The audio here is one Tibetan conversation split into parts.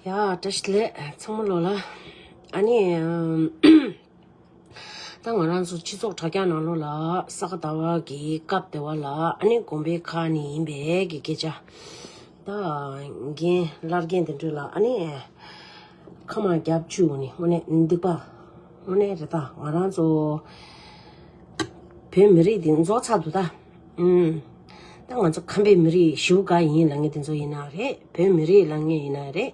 ཡ་དྲི་ཞི་ལེ་ཚང་མ་ལོ་ལ་ཨ་ནི་ད་ང་རང་ཚོ་སྤྱི་ཚོགས་དྲ་རྒྱ་ནང་ལོ་ལ་ས་ག་ཟླ་བ་གི་སྐབས་དེ་བ་ལ་ཨ་ནི་དགོན་པའི་ཁ་ནས་ཡིན་པས་གི་སྐད་ཆ་ད་རྒན་ལར་རྒན་དེ་འདྲ་ལ་ཨ་ནི་ཁ་མ་རྒྱབ་ཆུ་ནི་དངོས་གནས་སྡིག་པ་དངོས་གནས་རེད་ད་ང་རང་ཚོ་བོད་མི་རིགས་འདི་འཛོགས་ཚར་འདུག་ད་ཨུ་ད་ང་ཚོ་ཁམས་པའི་མི་རིགས་བཞུགས་སྒར་ཡིན་ལ་ངས་དེ་ཚོ་ཡིན་ན་རེད་བོད་མི་རིགས་ལ་ངས་ཡིན་ན་རེད་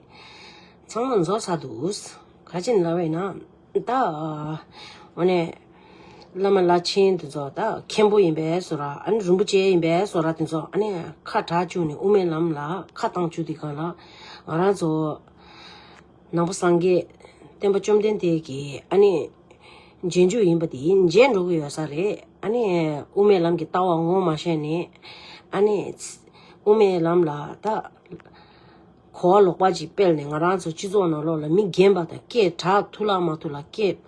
ཚང་མ་འཛོ་ས་འདུག་ག་ཅིན་ལ་བས་ན་ད་འོ་ནས་བླ་མ་བླ་ཆེན་དེ་ཚོ་ད་མཁན་པོ་ཡིན་པས་སོ་ར་ཨ་ནི་རིན་པོ་ཆེ་ཡིན་པས་སོ་ར་དེ་ཚོ་ཨ་ནས་ཁ་གྲགས་བཅུག་ནས་དབུ་མའི་ལམ་ལ་ཁ་བཏང་བཅུག་དེ་ག་ལ་ང་རང་ཚོ། ནང་པ་སངས་རྒྱས་བསྟན་པ་བཅོམ་ལྡན་འདས་ཀྱིས་ཨ་ནི། རྗེས་འཇུག་ཡིན་པ་འདི་མཇལ་འགྲོ་གི་ཡོད་ས་རེད་ཨ་ནི། དབུ་མའི་ལམ་གྱི་ལྟ་བ་ངོ་མ་ཤེས་ནས་ཨ་ནི། དབུ་མའི་ལམ་ལ་ད། གོ་བ་ལོག་པ་ཅིག་སྤེལ་ནས་ང་རང་ཚོ་སྤྱི་ཚོགས་ནང་ལོག་ལ་མི་རྒན་པ་དང་སྐད་གྲགས་ཐུག་ལག་མ་ཐུག་ལག་སྐད།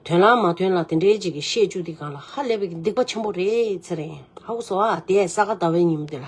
དོན་ལག་མ་དོན་ལག་དེ་འདྲའི་ཅིག་གི་བཤད་བཅུག་འདི་གང་ལ་ཧ་ལས་པའི་སྡིག་པ་ཆེན་པོ་རེད་ཟེར་ཨ་བུ་སོ་ཨ་དེས་ས་ག་ཟླ་བའི་ཉིན་མོ་འདི་ལ།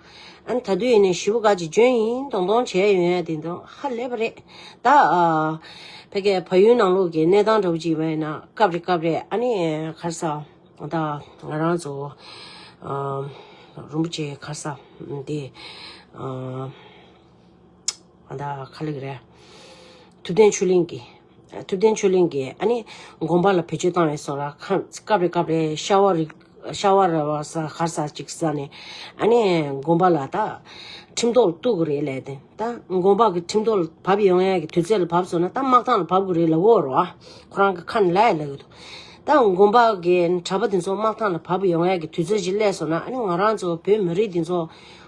ཨ་ད་དུས་ནས་ཞུ་བ་ག་ཅིག་འཇོན་ཡིན་དོང་དོང་བྱས་ཡོད་ཡ་དེ་དོན་ཧ་ལས་པ་རེད་ད། ཕ་གི་ཕ་ཡུལ་ནང་ལོག་གི་གནས་སྟངས་འདྲ་བོ་ཅིག་ཡིན་པ་ན་སྐབས་རེ་སྐབས་རེ་ཨ་ནི་ཁར་ས་ད་ང་རང་ཚོ་རུམ་པ་ཆེ་ཁར་ས་དེ། ད་ཁ་ལེགས་རེད། ཐུབ་བསྟན་ཆོས་གླིང་གི་ཐུབ་བསྟན་ཆོས་གླིང་གི་ཨ་ནི་དགོན་པ་ལ་བེད་སྤྱོད་བཏང་བའི་སོགས་ལ་ཁ་སྐབས་རེ་སྐབས་རེ་ཤ་བ་རིག་ཤ་བ་ར་བ་ས་གར་ས་ཅིག་ས་ནས་ཨ་ནི་དགོན་པ་ལ་ད་ཁྲིམས་ཐོག་ལ་གཏུག་གི་རེད་ལས་དེ་ད་དགོན་པ་གི་ཁྲིམས་ཐོག་ལ་བབས་ཡོང་ཡ་གི་དུས་ཚོད་ལ་བབས་སོང་ན་ད་དམག་ཐང་ལ་བབས་གི་རེད་ལ་འོ་རོ་ཨ་ཁོ་རང་གི་ཁ་ནི་ལ་ཡ་ལ་གི་འདུག་ད་དགོན་པ་གི་གྲྭ་པ་དེ་ཚོ་དམག་ཐང་ལ་བབས་ཡོང་ཡ་གི་དུས་ཚོད་ཅིག་སླེབས་སོང་ན་ཨ་ནི་ང་རང་ཚོ་བོད་མི་རིགས་འདི་ཚོ་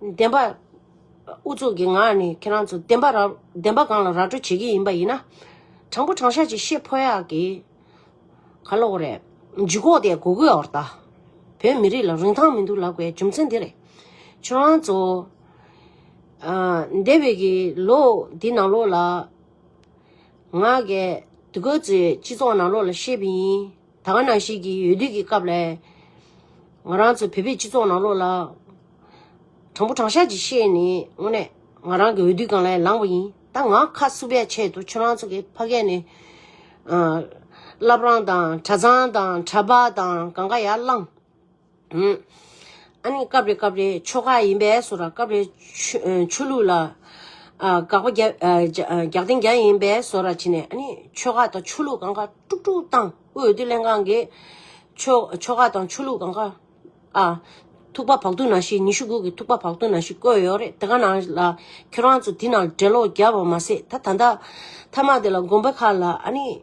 བདེན་པ། ཨུ་ཚུགས་ཀྱི་ངག་ནི་ཁྱེད་རང་ཚོ་བདེན་པ་ར་བདེན་པ་གང་ལ་ར་སྤྲོད་བྱེད་ཀྱི་ཡིན་པ་ཡིན་ན། དྲང་པོ་དྲང་ཤ་ཅིག་བཤད་ཕོད་ཡག་གི། ག་ལོག་རེད། ཇུས་གོག་དེ་གོ་གོས་འོར་ད། བོད་མི་རིགས་ལ་རིན་ཐང་མི་འདུག་ལབ་དགོས་རྒྱུ་མཚན་དེ་རེད། ཁྱོད་རང་ཚོ། ཨ། འདས་པའི་གི་ལོ་འདི་ནང་ལོགས་ལ། ང། གི་གོས་ཚོས་སྤྱི་ཚོགས་ནང་ལོགས་ལ་བཤད་པ་ཡིན། ད་ག་ནང་ཞིག་གི་ཡོད་དུས་ཀྱི་སྐབས་ལས། ང་རང་ཚོ་བོད་པའི་སྤྱི་ཚོགས་ནང་ལོགས་ལ། དྲང་པོ་དྲང་ཤག་ཅིག་བཤད་ནས་དངོས་གནས་ང་རང་གི་འོས་བསྡུ་གང་ལས་ལངས་པ་ཡིན་ད་ང་ཁ་བསུབ་ཡ་ཆེད་དུ་ཁྱོད་རང་ཚོ་གི་ཕ་སྐད་ནས། བླ་བྲང་དང་གྲྭ་ཚང་དང་གྲྭ་པ་དང་གང་ག་ཡ་བླངས། ཨུན། ཨ་ནི་སྐབས་རེ་སྐབས་རེའི་ཆོ་ག་ཡིན་པས་སོ་ར་སྐབས་རེ་ཆོས་ལུགས་ལ་དགག་པ་རྒྱག་རྟེན་འགྱངས་ཡིན་པས་སོ་ར་བྱེད་ནས་ཨ་ནི་ཆོ་ག་དང་ཆོས་ལུགས་གང་གཱ་དཀྲུག་དཀྲུག་བཏང་དབུས་འོས་བསྡུ་ལྷན་ཁང་གིས་ཆོ་ག་དང་ཆོས་ལུགས་གང་གཱ་ཨ། ཐུག་པ་བག་ཏུ་ན་ཤི་ཉི་ཤུ་དགུ་གི་ཐུག་པ་བག་ཏུ་ན་ཤི་བཀོད་ཡོད་རེད་དེ་ག་ན་ལ་ཁྱོད་རང་ཚོ་དེ་ནང་འགྲེལ་ལོག་རྒྱབ་པ་མ་ཟད་ད་ད་ད་ད་མ་དེ་ལ་དགོན་པ་ཁག་ལ་ཨ་ནི།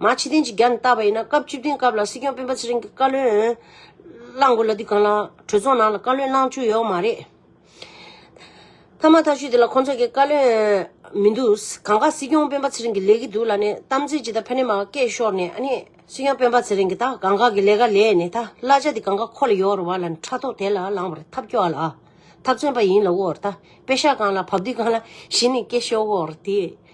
མ་ཕྱི་གཏན་གྱི་རྒྱ་ནས་བཏབ་པ་ཡིན་ན་སྐབས་བཅུ་བདུན་སྐབས་ལ་སྲིད་སྐྱོང་སྤེན་པ་ཚེ་རིང་གི་བཀའ་བློན་བླངས་དགོས་ལ་འདི་གང་ལ་གྲོས་ཚོགས་ནང་ལ་བཀའ་བློན་བླངས་བཅུག་ཡོད་མ་རེད། ཐ་མ་ཐག་ཆུད་དེ་ལ་ཁོང་ཚོ་གི་བཀའ་བློན་མི་འདུག་གང་དགའ་སྲིད་སྐྱོང་སྤེན་པ་ཚེ་རིང་གི་ལས་ཀྱི་འདུག་ལ་ནས་གཏམ་ཚིག་ཅི་ད་ཕན་ནས་མ་སྐད་ཤོར་ནས་ཨ་ནི་སྲིད་སྐྱོང་སྤེན་པ་ཚེ་རིང་གི་ད་གང་དགའ་གི་ལས་ཀ་ལས་ནས་ད་གླ་ཆ་དེ་གང་དགའ་ཁོ་ལ་ཡོད་རུ་བ་ལ་ནས་ཕྲག་ཐོག་དེ་ལ་ལངས་པར་ཐབས་སྐྱོ་བ་ལ་ཨ་ཐབས་བརྩོན་པ་ཡིན་ལ་འོར་ད་དཔེ་ཤག་གང་ལ་བབ་དེ་གང་ལ་གཞི་ནས་སྐད་ཤོར་འོར་དེ་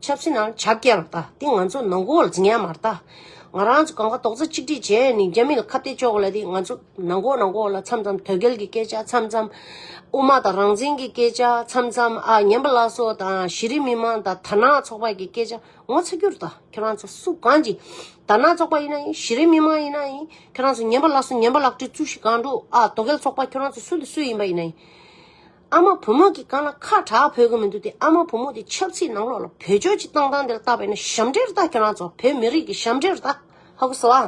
ཆབ་སྲིད་ནང་ཆ་རྐྱེན་ལ་བལྟ། དེ་ང་ཚོ་ནང་འགོག་ལ་ཇི་སྙེད་མར་བལྟ། ང་རང་ཚོ་གང་ག་རྡོག་རྩ་གཅིག་སྒྲིལ་བྱས་ནས་རྒྱ་མི་ལ་ཁ་གཏད་གཅོག་གོ་ལ་དེ་ང་ཚོ་ནང་འགོག་ནང་འགོག་ལ་མཚམས་མཚམས་དོལ་རྒྱལ་གྱི་སྐད་ཆ་མཚམས་མཚམས། དབུ་མ་དང་རང་བཙན་གྱི་སྐད་ཆ་མཚམས་མཚམས་ཨ་ཉན་པ་ལ་སོགས་དང་གཞི་རིམ་མི་མང་དང་དར་ནག་ཚོགས་པ་གྱི་སྐད་ཆ་ངོ་ཚ་རྒྱུར་བལྟ་ཁྱོད་རང་ཚོ་སུ་གང་གྱི་དར་ནག་ཚོགས་པ་ཡིན་ན་ཡིན་གཞི་རིམ་མི་མང་ཡིན་ན་ཡིན་ཁྱོད་རང་ཚོ་ཉན་པ་ལ་སོགས་ཉན་པ་ལག་བྲིས་རྩུབ་ཤིག་གང་འགྲོ་ཨ་དོ་གལ་ཚོགས་པ་ཁྱོད་རང་ཚོ་སུ་ལ་སུ་ཡིན་པ་ཡིན་ན་ཡིན། ཨ་མ་བུ་མོ་གི་རྐང་ལ་ཁ་གྲག་ཕོད་ཀྱི་མི་འདུག་སྟེ་ཨ་མ་བུ་མོ་དེ་ཆབ་ཚིག་ནང་ལོགས་ལ་བོད་ཆོས་ཀྱི་གཏང་སྟངས་དེར་བལྟ་བས་ན་ཞབས་འདྲེན་རུ་བལྟ་ཁྱོད་རང་ཚོ་བོད་མི་རིགས་ཀྱི་ཞབས་འདྲེན་རུ་བལྟ་ཧ་གོ་སོང་ཨ་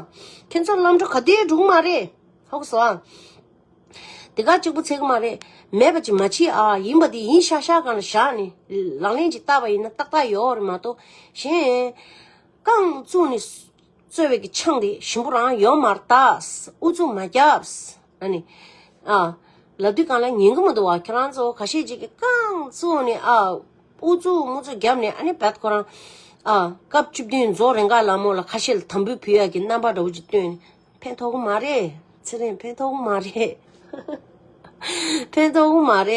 ཁྱོད་ཚོ་ལམ་འགྲོ་ག་དུས་འགྲོ་གི་མ་རེད་ཧ་གོ་སོང་ཨ། དེ་ག་གཅིག་པུ་ཚད་ཀྱི་མ་རེད་མེད་པ་ཅིག་མ་མཆིས་ཨ་ཡིན་པ་དེ་ཡིན་ཤག་ཤག་གང་ལ་བཞག་ནས་ལག་ལེན་ཅིག་བསྟར་བ་ཡིན་ན་ཏག་ཏག་ཡོའོ་རེད་མ་གཏོགས་གཞན། རྐང་བཙུགས་ནས་རྩོད་བའི་གི་ཆང་དེ་ཞིམ་པོ་རང་ཡོད་མ་རྟགས་ཨུ་ཚུགས་མ་རྒྱབས། ཨ་ནི། ཨ། ལབ་དུས་གང་ལ་ཉན་གི་མི་འདུག་བ་ཁྱེད་རང་ཚོ་ག་ཤེད་ཅིག་གི་རྐང་བཙུགས་ནས་ཨ། ཨུ་ཚུགས་དམུ་ཚུགས་རྒྱབ་ནས་ཨ་ནི་བད་ཁོ་རང། ཨ། སྐབས་བཅུ་བདུན་རྫོགས་རེ་འགས་ལ་མོ་ལ་ཁ་ཤེད་དམ་བུས་བུ་ཡག་གི་རྣམ་པ་འདྲ་བོ་ཅིག་སྟོན་ནས་ཕན་ཐོག་གི་མ་རེད། ཚེ་རིང་ཕན་ཐོག་གི་མ་རེད།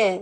ཧཧཧ།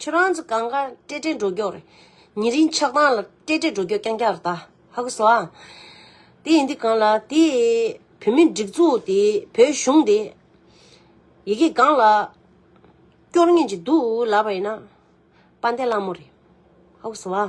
ཁྱོད་རང་ཚོ་གང་གཱ་སྤྲེལ་སྤྲེལ་འགྲོ་མགྱོགས་རེད། ཉེ་རིང་ཆགས་སྡང་ལ་སྤྲེལ་སྤྲེལ་འགྲོ་མགྱོགས་རྐྱང་རྐྱང་རེད་ད། ཧ་གོ་སོ་ཨ། དེ་ཡིན་དུས་གང་ལ་དེ། བོད་མི་སྒྲིག་འཛུགས་དེ་བོད་གཞུང་དེ། ཡི་གེ་གང་ལ། སྐྱོར་ངེས་ཀྱི་འདུག་ལབ་པ་ཡིན་ན། དཔའ་འདས་གླང་མོ་རེད། ཧ་གོ་སོ་ཨ།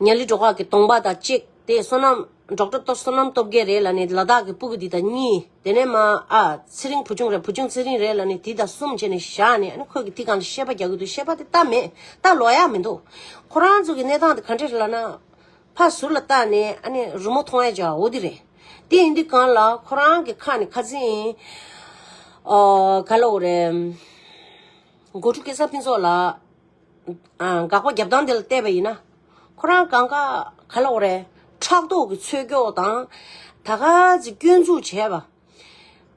མྱ་ལི་འབྲོག་ཁག་གི་སྟོང་པ་དང་གཅིག་དེ་བསོད་ནམས་འབྲོག་སྤྲུལ་བསོད་ནམས་སྟོབས་རྒྱལ་རེད་ལ་ནི་ལ་དྭགས་ཀྱི་སྤུ་གུ་འདི་དང་གཉིས་དེ་ནས་མ་ཨ་ཚེ་རིང་བུ་ཆུང་རེད་བུ་ཆུང་ཚེ་རིང་རེད་ལ་ནི་དེ་དང་གསུམ་བྱས་ནས་བཞག་ནས་ཨ་ནི་ཁོས་ཀྱི་དེ་གང་ལ་བཤད་པ་རྒྱག་གི་འདུག་བཤད་པ་དེ་ལྟ་མེད་ལྟ་ལོག་ཡ་མི་འདུག་ཁོ་རང་ཚོ་གི་གནས་སྟངས་དེ་ག་འདྲ་རེད་ལ་ན་ཕ་ཟུར་ལ་བལྟ་ནས་ཨ་ནི་རུ་མོ་ཐོང་ཡ་བྱ་འོ་དེ་རེད་དེ་ཡིན་དུས་གང་ལ་ཁོ་རང་གི་ཁ་ནི་ཁ་ཚིག་ཨ་ག་ལ་འོ་རེད་མགོ་ཕྲུག་སྐལ་བཟང་ཕུན་ཚོགས་ལགས། འགག་པ་བརྒྱབ་སྟངས་དེ་ལ་བལྟས་པ་ཡིན་ན། ཁོ་རང་གང་ག་ག་ལ་འོ་རེད། ཕྲག་དོག་གི་ཚོད་སྐྱོ་དང། ད་ག་ཟེ་སྐྱོན་འཛུགས་བྱས་པ།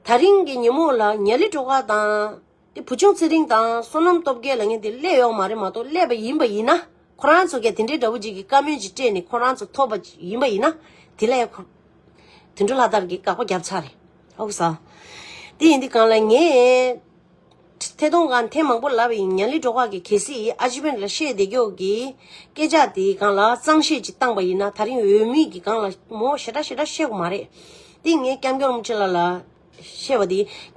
ད་རིང་གི་ཉིན་མོ་ལ་ཉལ་ལི་སྒྲོ་ག་དང། དེ་བུ་ཆུང་ཚེ་རིང་དང་བསོད་ནམས་སྟོབས་རྒྱལ་ལ་ངས་དེ་སླད་ཡོག་མ་རེད་མ་གཏོགས་སླད་པ་ཡིན་པ་ཡིན་ན། ཁོ་རང་ཚོ་གས་དེ་འདྲའི་དགྲ་བོ་འཇིགས་ཀྱི་བཀའ་མོལ་ཅིག་སྤྲད་ནས་ཁོ་རང་ཚོ་ཐོབ་པ་ཅིག་ཡིན་པ་ཡིན་ན། དེ་ལས། དུད་འགྲོ་ལྷ་དར་གྱིས་འགག་པ་བརྒྱབ་ཚར་རེད། ཨོ་ས། དེ་ཡིན་དུས་གང་ལ་ངས། ཐད་གཏོང་གང་ཐེངས་མང་པོ་ལབ་ཡིན་མྱང་ལི་འབྲོག་ཁག་གི་གལ་སྲིད་ཨ་ཇི་བན་ར་ཤའི་བདེ་སྐྱོགས་ཀྱི་སྐད་ཆ་དེའི་སྒང་ལ་གཙང་བཤད་ཅིག་བཏང་པ་ཡིན་ན་ད་རིང་འོས་མི་གི་སྒང་ལ་མོ་ཞེ་དྲག་ཞེ་དྲག་བཤད་གོ་མ་རེད་དེ་ངས་སྐྱབས་མགྱོགས་རིན་པོ་ཆེ་ལགས་ལ་བཤད་པ་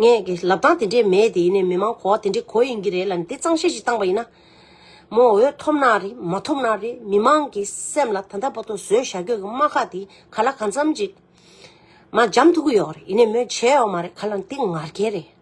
དེ་ངས་གི་ལབ་སྟངས་དེ་འདྲས་མེད་དེ་ནས་མི་མང་གོ་བ་དེ་འདྲས་གོ་ཡིན་གྱི་རེད་ལ་དེ་གཙང་བཤད་ཅིག་བཏང་པ་ཡིན་ན་མོ་འོས་ཐོབ་ན་རེད་མ་ཐོབ་ན་རེད་མི་མང་གི་སེམས་ལ་ད་ལྟ་བར་དུ་བཟོས་བཞག་གྱོད་ཀྱི་དམག་ཁག་དེ་ག་ལ་གང་འཚམ་ཅིག་མ་འཇམ་ཐུག་གི་ཡོག་རེད་ཡིན་ནས་མོས་བྱས་ཡོག་མ་རེད་ག་ལ་དེ་ངར་ཁྱེད་རེད།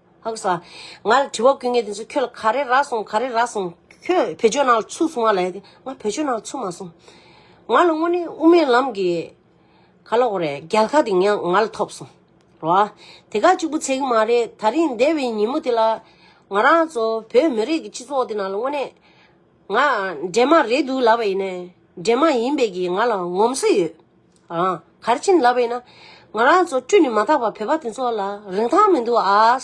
ཧཱུྃ་ས། ང་ལ་དྲི་བ་ཀུན་ངའི་དེ་ཚོ་ཁྱོད་ལ་ག་རེ་རག་སོང་ག་རེ་རག་སོང། ཁྱོད་བོད་ཆོས་ནང་ལ་ཚུད་སོང་བ་ལ་ཡ་དེ་ང་བོད་ཆོས་ནང་ལ་ཚུད་མ་སོང། ང་ལ་དངོས་གནས་དབུ་མའི་ལམ་གྱི། ག་ལ་འོ་རེད་རྒྱལ་ཁ་དེ་ངས་ང་ལ་ཐོབ་སོང། རོ་ཨ། དེ་ག་གཅིག་པུ་ཚད་གི་མ་རེད་ད་རིང་འདས་པའི་ཉིན་མོ་དེ་ལ། ང་རང་ཚོ་བོད་མི་རིགས་ཀྱི་སྤྱི་ཚོགས་དེ་ནང་ལ་དངོས་གནས། ང་འདྲེ་མ་རེད་འདུག་ལབ་པ་ཡིན་ནའི་འདྲེ་མ་ཡིན་པའི་གིས་ང་ལ་ངོམ་སེ་ཡོད། རང་གར་ཕྱིན་ལབ་པས་ན། ང་རང་ཚོ་བཀྲུས་ནས་མ་ཐག་པ་བོད་པ་དེ་ཚོ་ལ་རིན་ཐང་མི་འདུག་ཨ།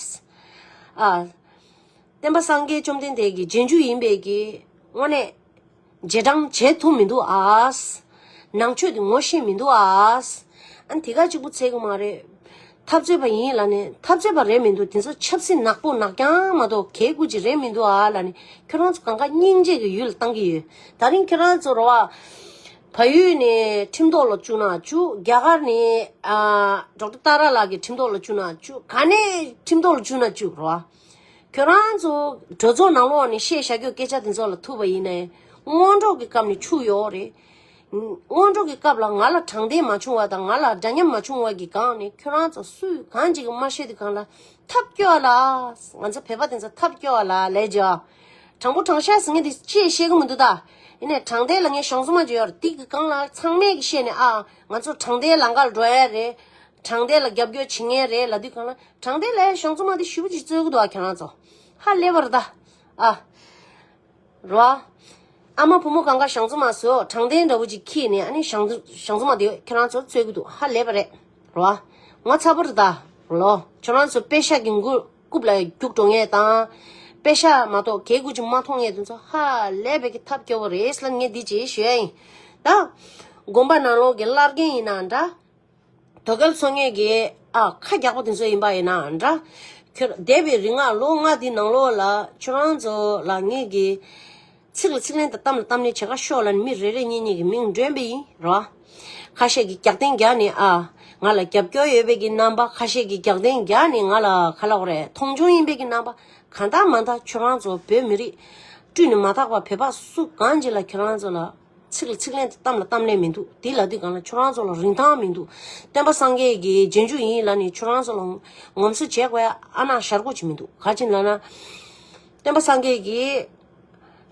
བསྟན་པ་སངས་རྒྱས་བཅོམ་ལྡན་འདས་ཀྱི་རྗེས་འཇུག་ཡིན་པས་ཀྱི། དངོས་གནས། རྗེས་འབྲང་བྱེད་ཐུབ་མི་འདུག་ཨ། ནང་ཆོས་དེ་ངོ་ཤེས་མི་འདུག་ཨ། ཨ་དེ་ག་གཅིག་པུ་ཚད་གི་མ་རེད། འཐབ་རྩོད་པ་ཡིན་ལ་ནི་འཐབ་རྩོད་པ་རེད་མི་འདུག་དེ་ཚོ་ཆབ་སྲིད་ནག་པོ་ནག་རྐྱང་མ་གཏོགས་གལ་དགོས་ཅིག་རེད་མི་འདུག་ཨ་ལ་ནི་ཁྱོད་རང་ཚོ་གང་ག་སྙིང་རྗེ་གི་ཡུལ་ལ་བཏང་གི་ཡོད། ད་རིང་ཁྱོད་རང་ཚོ་རོ། ཕ་ཡུལ་ནས་ཁྲིམས་ཐོག་ལ་བཅུག་ན་བཅུག་རྒྱ་གར་ནས་འབྲོག་སྒྲ་སྟག་ར་ལགས་ཀྱི་ཁྲིམས་ཐོག་ལ་བཅུག་ན་བཅུག་ག་ནས་ཁྲིམས་ཐོག་ལ་བཅུག་ན་བཅུག་རོ། ཁྱོད་རང་ཚོ་གྲོས་ཚོགས་ནང་ལོགས་ནས་བཤད་བཞག་གི་སྐད་ཆ་དེ་ཚོ་ལ་ཐུག་པ་ཡིན་ན། སྔོན་འགྲོགས་ཀྱི་སྐབས་ནས་འཆུག་ཡོད་རེད། སྔོན་འགྲོགས་ཀྱི་སྐབས་ལ་ང་ལ་དྲང་བདེན་མ་བྱུང་བ་དང་ང་ལ་འདྲ་མཉམ་མ་བྱུང་བ་གྱི་སྒང་ནས་ཁྱོད་རང་ཚོ་སུས་གང་ཅིག་མ་བཤད་དེ་གང་ལ་ཐབས་སྐྱོ་བ་ལ། ང་ཚོ་བོད་པ་དེ་ཚོ་ཐབས་སྐྱོ་བ་ལ་ལས་བྱོས། དྲང་པོ་དྲང་ཤགས་ཟེར་མཁན་དེ་ཅིའི་བཤད་གི་མི་འདུག་ད། ཡིན་ནས་དྲང་བདེན་ལ་ངས་གཞུང་སྲོལ་མ་བརྗོད་ཡོར་ཏིག་གི་རྐང་ལག་ཚང་མས་ཀྱི་བཤད་ནས་ཨ། ང་ཚོ་དྲང་བདེན་ལ་འགའ་ལ་འགྲོ་ཡས་རེད། དྲང་བདེན་ལ་རྒྱབ་སྐྱོར་བྱེད་ངེས་རེད་ལ་དུས་གང་ལ་དྲང་བདེན་ལའི་གཞུང་རྩོམ་མ་དེ་ཞུ་བ་ཅིག་རྩོད་གི་འདུག་ཨ་ཁྱེད་རང་ཚོ། ཧ་ལས་པར་གདའ། ཨ། རོ། ཨ་མ་བུ་མོ་གང་ག་གཞང་རྩོམ་མ་སོ་དྲང་བདེན་འདྲ་བོ་ཅིག་ཁྱེད་ནས་ཨ་ནི་གཞང་གཞང་རྩོམ་མ་དེ་ཁྱེད་རང་ཚོ་རྩོད་གི་འདུག་ཧ་ལས་པ་རེད། རོ། ང་ཚ་པོ་རེད་ད། ལོ། ཁྱོད་རང་ཚོ་པད་ཤག་གི་མགུར། རྐུབ་ལ་རྒྱུག་འགྲོ་ངེས་དང། དཔེ་ཤ་མ་གཏོགས་གད་སྐུད་ཅིག་མ་མཐོང་ངེས་དོན་ཚོ་ཧ་ལས་པའི་གི་ཐབས་སྐྱོ་བོ་རེད་ལ་ངས་འདི་ཅི་ཞུ་ཡ་ཡིན། ད། དགོན་པ་ནང་ལོག་གི་བླ་རྒན་ཡིན་ན་འདྲ། དོ་གལ་ཚོ་ངེས་གི་ཨ་ཁ་རྒྱག་པོ་དེ་ཚོ་ཡིན་པ་ཡིན་ན་འདྲ། ཁྱོད་འདས་པའི་རིག་སྔགས་ལོ་ལྔ་དེའི་ནང་ལོག་ལ་ཁྱོད་རང་ཚོ་ལ་ངེས་གི། ཚིག་ལ་ཚིག་ལན་དང་གཏམ་ལ་གཏམ་ལན་བྱེད་ཁ་ཤོག་ལ་ནི་མི་རེ་རེ་གཉིས་གཉིས་ཀྱི་མིང་སྒྲོན་པ་ཡིན་རོ། ཁ་ཤས་ཀྱི་རྒྱག་རྟེན་རྒྱག་ནི་ཨ། ང་ལ་རྒྱབ་སྐྱོར་ཡོད་པས་ཀྱི་རྣམ་པ་ཁ་ཤས་ཀྱི་རྒྱག་རྟེན་རྒྱག་ནི་ང་ལ་ཁ་ལོག་རེད་མཐོང་ཆུང་ཡིན་པས་ཀྱི་རྣམ་པ་ག་མཐའ་མ་མཐའ་ཁྱོད་རང་ཚོ་བོད་མི་རིགས། བཀྲུས་ནི་མ་ཐག་པ་བོད་པ་སུ་གང་ཅི་ལ་ཁྱོད་རང་ཚོ་ལ། ཚིག་ལ་ཚིག་ལན་དང་གཏམ་ལ་གཏམ་ལན་མི་འདུག་དེ་ལ་དུས་གང་ལ་ཁྱོད་རང་ཚོ་ལ་རིན་ཐང་མི་འདུག་བསྟན་པ་སངས་རྒྱས་ཀྱི་རྗེས་འཇུག་ཡིན་ལ་ནི་ཁྱོད་རང་ཚོ་ལ། ངོམ་སོ་བྱེད་དགོས་ཨ་ན་ཞར་གོ་བྱེད་མི་འདུག་ག་ཅི་ལ་ན། བསྟན་པ་སངས་རྒྱས་ཀྱི།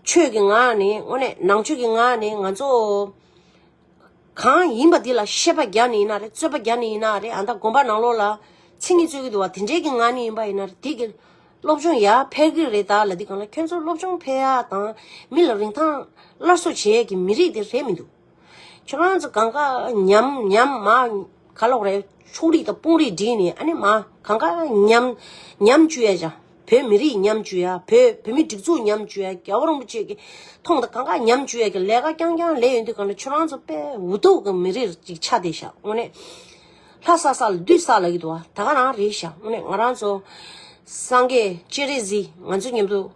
ཆོས་ཀྱི་ངག་ནི་དངོས་གནས་ནང་ཆོས་ཀྱི་ངག་ནི་ང་ཚོ། གང་ཡིན་པ་དེ་ལ་ཤེས་པ་བརྒྱ་ནི་ཡིན་ན་རེད་རྩོད་པ་བརྒྱ་ནི་ཡིན་ན་རེད་ཨ་མདའ་དགོན་པ་ནང་ལོགས་ལ་ཚིག་ངན་རྩོད་ཀྱི་འདུག་བ་དེ་འདྲའི་གི་ངག་ནི་ཡིན་པ་ཡིན་ན་རེད་དེ་གི་སློབ་སྦྱོང་ཡག་འཕེལ་གི་རེད་ད་ལ་དེ་གང་ལ་ཁྱོད་ཚོ་སློབ་སྦྱོང་འཕེལ་ཡག་དང་མི་ལ་རིན་ཐང་སླར་གསོ་བྱེད་ཡས་ཀྱི་མི་རིགས་དེ་རེད་མི་འདུག། ཁྱོད་རང་ཚོ་གང་ག་ཉམས་ཉམས་མ་ག་ལོག་རེད་ཕྱུགས་རིགས་དང་དཔུང་རིགས་བསྒྲིགས་ནས་ཨ་ནེ་མ་གང་ག་ཉམས་ཉམས་བཅུ་ཡ་བྱ་བོད་མི་རིགས་ཉམས་བཅུ་ཡ་བོད་བོད་མི་སྒྲིག་འཛུགས་ཉམས་བཅུ་ཡ་རྒྱལ་བོ་རིན་པོ་ཆེ་གི་ཐོང་དང་གང་ག་ཉམས་བཅུ་ཡ་གི་ལས་ཀ་རྐྱང་རྐྱང་ལས་ཡོད་འདུག་ག་ནི་ཁྱོད་རང་ཚོ་དཔེ་འུ་ཐུག་གི་མི་རིགས་ཅིག་ཆགས་བསྡད་ཤག་དངོས་གནས་ལྷ་ས་ས་ལ་བདུད་ས་ལ་གི་འདུག་བ་ད་ག་རང་རེད་ཤག་དངོས་གནས་ང་རང་ཚོ་སངས་རྒྱས་སྤྱན་རས་གཟིགས་ང་ཚོ་མཉམ་དུ།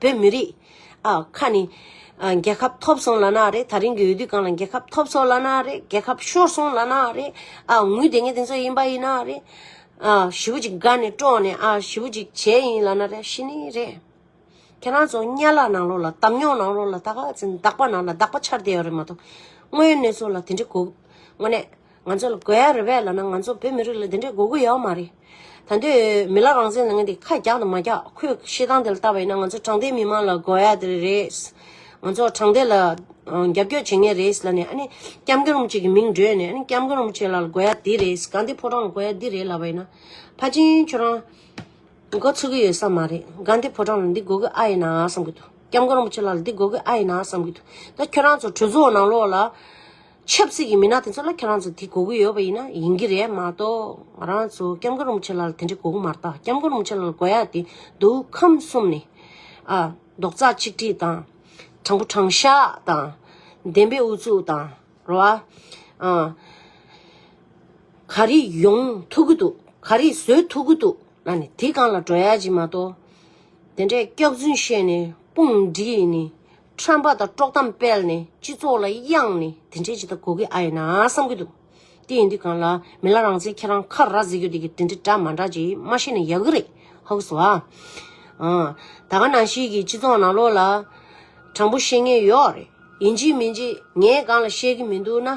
བོད་མི་རིགས། ཨ། ཁ་ནི། རྒྱལ་ཁབ་ཐོབ་སོང་ལ་ན་རེ་ད་རིང་གི་འོས་བསྡུ་གང་ལ་རྒྱལ་ཁབ་ཐོབ་སོང་ལ་ན་རེ་རྒྱལ་ཁབ་ཤོར་སོང་ལ་ན་རེ། ཨ། ངུས་དེ་ངས་དེ་ཚོ་ཡིན་པ་ཡིན་ན་རེ། ཨ། ཞི་བུ་ཅིག་དགའ་ནས་དཀྲོགས་ནས་ཨ། ཞི་བུ་ཅིག་བྱས་ཡིན་ལ་ན་རེ་ཤི་ནི་རེ། ཁྱེད་རང་ཚོ་གཉའ་ལག་ནང་ལོགས་ལ་དམ་ཉོག་ནང་ལོགས་ལ་ད་ག་ཚེ་འདག་པ་ནང་ལ་འདག་པ་འཆར་བསྡད་ཡོད་རེད་མ་གཏོགས། དངོས་ཡོད་གནས་ཚུལ་ལ་དེ་འདྲའི་གོ། དངོས་གནས། ང་ཚོ་ལ་དགོས་ཡ་རེད་བས་ལ་ན་ང་ཚོ་བོད་མི་རིགས་ལ་དེ་འདྲའི་དགོས་མཁོ་ཡའོ་མ་རེད། ད་འདོད་མི་ལ་རང་བཙན་ལ་ངན་དེ་ཁ་རྒྱག་དང་མ་རྒྱག་ཁོས་བཤད་སྟངས་དེ་ལ་ལྟ་བ་ཡིན་ན་ང་ཚོ་དྲང་བདེན་མི་མང་ལ་དགོས་ཡ་དེ་རེད། ང་ཚོ་དྲང་བདེན་ལ་རྒྱབ་སྐྱོར་བྱེད་ངེས་རེད་ལ་ནས་ཨ་ནི་སྐྱབས་མགོན་རིན་པོ་ཆེ་གི་མིང་བགྲོས་ནས་ཨ་ནི་སྐྱབས་མགོན་རིན་པོ་ཆེ་ལ་ལ་དགོས་ཡ་དེ་རེད་གང་དེ་ཕོ་བྲང་ལ་དགོས་ཡ་འདི་རེད་ལབ་པ་ཡིན་ན། ཕ་ཆེན་ཁྱོད་རང་མགོ་ཚོས་གི་ཡོད་ས་མ་རེད་གང་དེ་ཕོ་བྲང་ལ་འདི་དགོས་གི་ཨ་ཡིན་ན་བསམ་གི་འདུག་སྐྱབས་མགོན་རིན་པོ་ཆེ་ལ་ལ་འདི་དགོས་གི་ཨ་ཡིན་ན་བསམ་གི་འདུག་ད་ཁྱོད་རང་ཚོ་གྲོས་ཚོགས་ནང་ལོགས་ལ། ཆབ་སྲིད་ཀྱི་མི་སྣ་དེ་ཚོ་ལ་ཁྱེད་རང་ཚོ་དེ་གོ་གི་ཡོད་པ་ཡིན་ན་ཡིན་གྱི་རེད་མ་གཏོགས་ང་རང་ཚོ་སྐྱབས་མགོན་རིན་པོ་ཆེ་ལགས་ལ་དེ་འདྲའི་གོ་གི་མ་རྟགས་སྐྱབས་མགོན་རིན་པོ་ཆེ་ལགས་ལ་གོ་ཡ་དེ་འདུག་ཁམས་གསུམ་ནས་ཨ། རྡོག་རྩ་གཅིག་སྒྲིལ་དང། དྲང་པོ་དྲང་བཞག་དང། བདེན་པའི་ཨུ་ཚུགས་དང་རེད་བ། ཨ། ག་རེ་ཡོང་ཐུག་གི་འདུག་ག་རེ་བཟོས་ཐུག་གི་འདུག་ན་ནི་དེ་གང་ལ་འགྲོ་ཡ་གཅིག་མ་གཏོགས། དེ་འདྲའི་སྐྱག་རྫུན་བཤད་ནས་དཔུང་སྒྲིག་ནི། ཁྲམ་པ་དང་དཀྲོག་གཏམ་སྤེལ་ནས་སྤྱི་ཚོགས་ལ་གཡང་ནས་དེ་འདྲས་ཇི་ལྟར་གོ་གི་ཨ་ཡིན་ན་བསམ་གི་འདུག་དེ་ཡིན་དུས་གང་ལ་མི་ལ་རང་བཙན་ཁྱེད་རང་ཁ་ར་ཟིག་གི་འདི་གི་དེ་འདྲས་འདྲ་མ་འདྲ་ཅིག་མ་ཤེས་ན་ཡག་གི་རེད་ཧཱུྃ་བསུ་ཨ། ད་ག་ནང་ཞིག་གི་སྤྱི་ཚོགས་ནང་ལོགས་ལ་དྲང་པོ་བཤད་ངེས་ཡོག་རེད་ཡིན་གཅིག་མིན་གཅིག་ངས་གང་ལ་བཤད་གི་མི་འདུག་ན།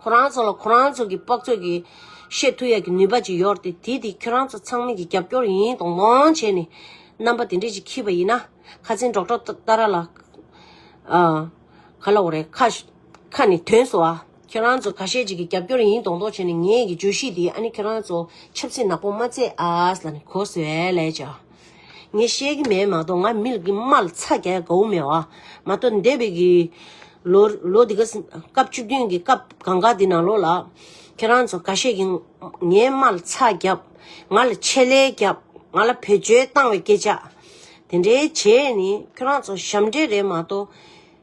ཁོ་རང་ཚོ་ལ་ཁོ་རང་ཚོ་གི་དཔག་ཚོད་ཀྱི་ཤེས་མཐུ་ཡག་གི་ནུས་པ་ཅིག་ཡོར་ཏེ་དེ་དེ་ཁྱོད་རང་ཚོ་ཚང་མིག་གི་རྒྱབ་སྐྱོར་ཡིན་ཡིན་དོང་དོང་བྱས་ནས་རྣམ་པ་དེ་འདྲས་ཅིག་ཁྱིས་པ་ཡིན་ན་ཁ་ཚིན་སྒྲོག་སྒྲོག་ཏ་ར་ལ། ཨ། ག་ལ་འོ་རེད་ཁ། ཁ་ནི་དོན་སོ་ཨ། ཁྱོད་རང་ཚོ་ག་ཤེད་ཅིག་གི་རྒྱབ་སྐྱོར་ཡིན་དོང་དོང་བྱས་ནས་ངེད་ཀྱི་བརྗོད་གཞི་འདི་ཨ་ནི་ཁྱོད་རང་ཚོ་ཆབ་སྲིད་ནག་པོ་མ་བརྩེགས་ཨ་ཨ་ཨ་ཨ་ལ་ནི་གོ་བཟོས་ཨེ་ལས་ཀྱི་ཨ། ངས་ཤེས་ཀྱི་མེད་མ་གཏོགས་ང་མི་ལ་གི་དམར་ལ་ཚ་རྒྱ་ཡག་ག་འུ་མེད་བ། མ་གཏོགས་འདས་པའི་གི། ལོ་ལོ་འདི་ག་སྐབས་བཅུ་བདུན་གི་སྐབས་གང་ག་དེ་ནང་ལོགས་ལ། ཁྱེད་རང་ཚོ་ག་ཤེད་ཀྱི། ངའི་དམར་ལ་ཚ་རྒྱབ། ང་ལ་ཆེད་ལས་རྒྱབ། ང་ལ་བེད་སྤྱོད་བཏང་བའི་སྐད་ཆ། དེ་འདྲའི་བྱས་ནི་ཁྱོད་རང་ཚོ་ཞབས་འདྲེན་རེད་མ་གཏོགས།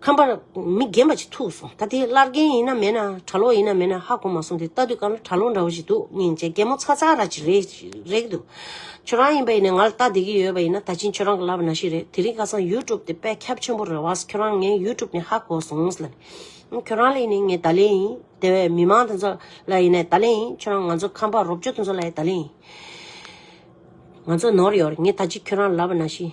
ཁམས་པར་མི་རྒན་པ་ཅིག་ཐུག་སོང་ད་དེ་སླར་རྒན་ཡིན་ན་མེད་ན་གྲྭ་ལོག་ཡིན་ན་མེད་ན་ཧ་གོ་མ་སོང་དེ་ལྟ་དུས་གང་ལ་གྲྭ་ལོག་འདྲ་བོ་ཞིག་འདུག་སྙིང་རྗེ་རྒན་མོ་ཚ་ཚ་ར་ཅིག་རེད་འདུག་ཁྱོད་རང་ཡིན་པ་ཡིན་ན་ང་ལ་ལྟ་བསྡད་ཀྱི་ཡོད་པ་ཡིན་ན་ད་ཕྱིན་ཁྱོད་རང་གི་ལབ་པ་ན་ཞིག་རེད་དེ་རིང་ཁ་སང་ཡུ་ཀྲུབ་དེ་དཔེ་ཁྱབ་ཆེན་པོ་རེད་བས་ཁྱོད་རང་ངའི་ཡུ་ཀྲུབ་ནས་ཧ་གོ་སོང་ངོ་ལ་ནས་ཁྱོད་རང་ལ་ཡིན་ནས་ངའི་ད་ལན་ཡིན་དེ་བས་མི་མང་དེ་ཚོ་ལ་ཡིན་ནས་ད་ལན་ཡིན་ཁྱོད་རང་ང་ཚོ་ཁམས་པར་རོབ་ཅོ་དེ་ཚོ་ལ་ཡི་ད་ལན་ཡིན་ང་ཚོ་ནོར་ཡོད་རེད་ངས་ད་ཅིག་ཁྱོད་རང་ལ་ལབ་པ་ན་ཞིག།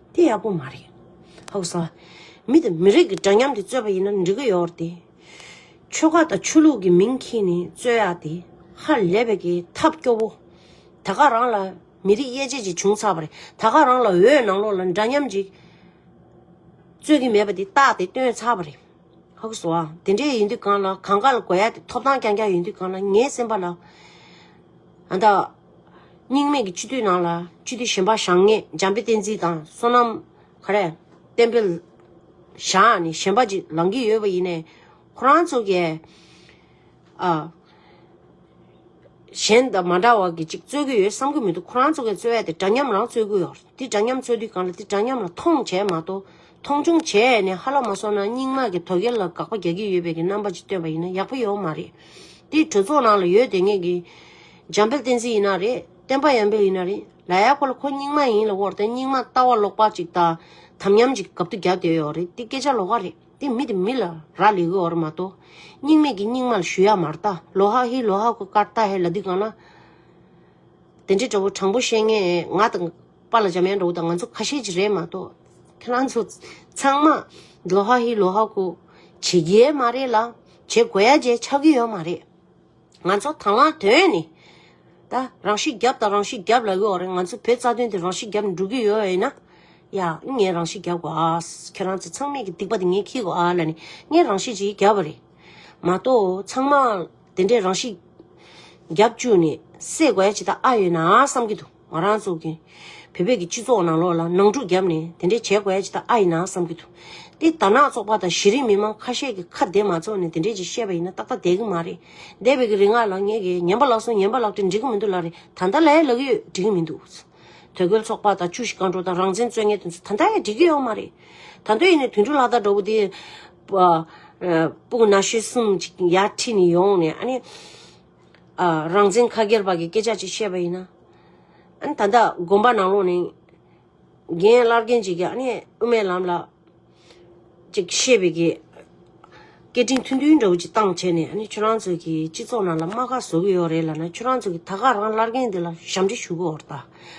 དེ་ཡག་པོ་མ་རེད། ཧཱུྃ་ས། མི་དང་མི་རིགས་ཀྱི་འདྲ་མཉམ་དེ་རྩོད་པ་ཡིན་ན་འགྲིག་གི་ཡོད་རེད། ཆོལ་ཁ་དང་ཆོས་ལུགས་ཀྱི་མིང་གིས་ནི་རྩོད་ཡག་དེ་ཧ་ལས་པའི་གི་ཐབས་སྐྱོ་བོ། ད་ག་རང་ལ་མི་རིགས་དབྱེ་འབྱེད་ཅིག་བྱུང་ཚར་བ་རེད་ད་ག་རང་ལ་འོས་ནང་ལོག་ལ་འདྲ་མཉམ་ཅིག་རྩོད་གི་མེད་པ་དེ་རྟགས་དེ་སྟོན་ཚར་བ་རེད། ཧཱུྃ་ས། དེ་འདྲས་ཡིན་དུས་གང་ལ་གང་ག་ལ་དགོས་ཡག་དེ་ཐོབ་ཐང་རྐྱང་རྐྱང་ཡིན་དུས་གང་ལ་ངའི་སེམས་པ་ལ། ཨ་ད། སྙིང་མེད་ཀྱི་སྤྱི་འཐུས་ནང་ལ་སྤྱི་འཐུས་གཞན་པ་བཞག་ངས་འཇམ་དཔལ་བསྟན་འཛིན་དང་བསོད་ནམས་ག་རེ་བསྟན་འཕེལ་བཞག་ནས་གཞན་པ་ཅིག་ལང་གི་ཡོད་པ་ཡིན་ནས་ཁོ་རང་ཚོ་གས་ཨ། གཞན་དང་མ་འདྲ་བ་གི་ཅིག་རྩོད་གི་ཡོད་བསམ་གི་མི་འདུག་ཁོ་རང་ཚོ་གས་རྩོད་ཡ་དེ་འདྲ་མཉམ་རང་རྩོད་གི་ཡོད་དེ་འདྲ་མཉམ་རྩོད་དུས་གང་ལ་དེ་འདྲ་མཉམ་ལ་མཐོང་བྱས་མ་གཏོགས། མཐོང་ཆུང་བྱས་ནས་ཧ་ལ་མ་སོང་ན་རྙིང་མ་གི་དོ་གལ་ལ་དགག་པ་རྒྱག་གི་ཡོད་པའི་གི་རྣམ་པ་ཅིག་སྟོན་པ་ཡིན་ན་ཡག་པོ་ཡོད་མ་རེད། དེ་གྲོས་ཚོགས་ནང་ལ་ཡོད་དེ་ངེད་གི། འཇམ་དཔལ་བསྟན་འཛིན་ཡིན་ན་རེད་བསྟན་པ་ཡང་འཕེལ་ཡིན་ན་རེད་ལ་ཡག་པོ་ལ་ཁོ་རྙིང་མ་ཡིན་ལ་བོར་ཏེ་རྙིང་མ་ལྟ་བ་ལོག་པ་ཅིག་ལྟ་དམ་ཉམས་ཅིག་གབ་ཏུ་རྒྱབ་དེ་ཡོད་རེད་དེ་སྐད་ཆ་ལོག་ཀ་རེད་དེ་མི་དེ་མི་ལ་ར་ལས་གི་འོར་མ་ཏོ་རྙིང་མས་གི་རྙིང་མ་ལ་ཞུ་ཡག་མ་ར་ཏཱ་ལོ་ཧ་ཧི་ལོ་ཧ་ཀོ་ཀར་ཏཱ་ཧེ་ལ་དི་གང་ན་དེ་འདྲའི་དྲ་བོ་དྲང་པོ་བཤད་ངེས་ང་དང། པ་ལ་འཇམ་དབྱངས་འགྲོ་བོ་དང་ང་ཚོ་ཁ་ཤས་ཀྱི་རེད་མ་གཏོགས་ཁྱེད་རང་ཚོ་ཚང་མ་ལོ་ཧ་ཧི་ལོ་ཧ་ཀོ་བྱེད་རྒྱའི་མ་རེད་ལ་བྱེད་དགོས་ཡ་བྱས་ཆགས་ཀྱི་ཡོད་མ་རེད། ང་ཚོ་དང་བླངས་དོན་ནི་ད་རང་ཤི་རྒྱབ་དང་རང་ཤི་རྒྱབ་ལ་གཡོག་རེད་ང་ཚོ་བོད་རྩ་དོན་དེ་རང་ཤི་རྒྱབ་ནས་འགྲོ་གི་ཡོད་ཡིན་ན་ཡ་ངས་རང་ཤི་རྒྱབ་གོ་ཨ་ཁྱེད་རང་ཚོ་ཚང་མས་ཀྱི་སྡིག་པ་དེ་ངས་ཁྱི་གོ་ཨ་ལ་ནི་ངས་རང་ཤི་ཅིག་རྒྱབ་པ་རེད་མ་གཏོགས་ཚང་མ་དེ་འདྲས་རང་ཤི་རྒྱབ་བཅུག་ནས་བསད་དགོས་ཡ་བྱེད་ད་ཨ་ཡོད་ན་བསམ་གྱི་འདུག། ང་རང་ཚོ་གིས་བོད་པའི་སྤྱི་ཚོགས་ནང་ལོགས་ལ་ནང་འཁྲུག་བརྒྱབ་ནས་དེ་འདྲའི་བྱས་དགོས་ཡ་ཅི་ད་ཨ་ཡིན་ནའང་བསམ་གྱི་འདུག་འདི་དར་ནག་ཚོགས་པ་དང་གཞི་རིམ་མི་དམངས་ཁ་ཤས་ཀྱི་ཁ་བདེ་མ་ཚོགས་ནས་དེ་འདྲའི་ཅིག་བཤད་པ་ཡིན་ན་ཏག་ཏག་བསྡད་གི་མ་རེད་འདས་པའི་གི་རིག་སྔགས་ལ་ངས་གི་ཉན་པ་ལགས་སོ་ཉན་པ་ལགས་དྲི་འགྲིག་གི་མི་འདུག་ལ་རེད་ད་ལྟ་ལ་ཡ་ལག་ཡོད་འགྲིག་གི་མི་འདུག་དོལ་རྒོལ་ཚོགས་པ་དང་ཆུ་བཞི་རྐང་འགྲོ་དང་རང་བཙན་རྩོད་ངན་དེ་ཚོ་ད་ལྟ་ཡ་འགྲིག་གི་ཡོད་མ་རེད་ད་འདོད་ཡིན་ནས་དུད་འགྲོ་ལྷ་དར་འདྲ་བོ་དེ་སྤུ་ན་ཤེལ་གསུམ་ཅིག་ཡར་ཁྲིད་ནས་ཡོང་ནས་ཨ་ནི། རང་བཙན་ཁ་སྒེར་བར་གྱི་སྐད་ཆ་ཅིག་བཤད་པ་ཡིན་ན། ད་ལྟ་དགོན་པ་ནང་ལོགས་ནས་རྒན་བླ་རྒན་གཅིག་གིས་ཨ་ནེ་དབུ་མའི་ལམ་ལ་ཅིག་བཤད་པའི་གི་སྐད་འཕྲིན་ཐུང་ཐུང་འདྲ་བོ་ཅིག་བཏང་བྱས་ནས་ཨ་ནེ་ཁྱོད་རང་ཚོ་གི་སྤྱི་ཚོགས་ནང་ལ་རྨ་ཁ་བཟོ་གི་ཡོད་རེད་ལ་ན་ཁྱོད་རང་ཚོ་གི་ད་ག་རང་བླ་རྒན་འདི་ལ་ཞབས་འདྲི་ཞུ་གི་འོར་ད་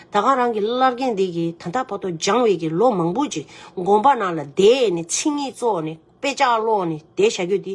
ད་ག་རང་གི་བླ་རྒན་འདི་གི་ད་ལྟ་བར་དུ་སྦྱངས་བའི་གི་ལོ་མང་པོ་ཅིག་དགོན་པ་ནང་ལ་བསྡད་ནས་ཚིག་ངན་བཙོག་ནས་དཔེ་ཆ་ཀློག་ནས་བསྡད་བཞག་རྒྱུ་འདི།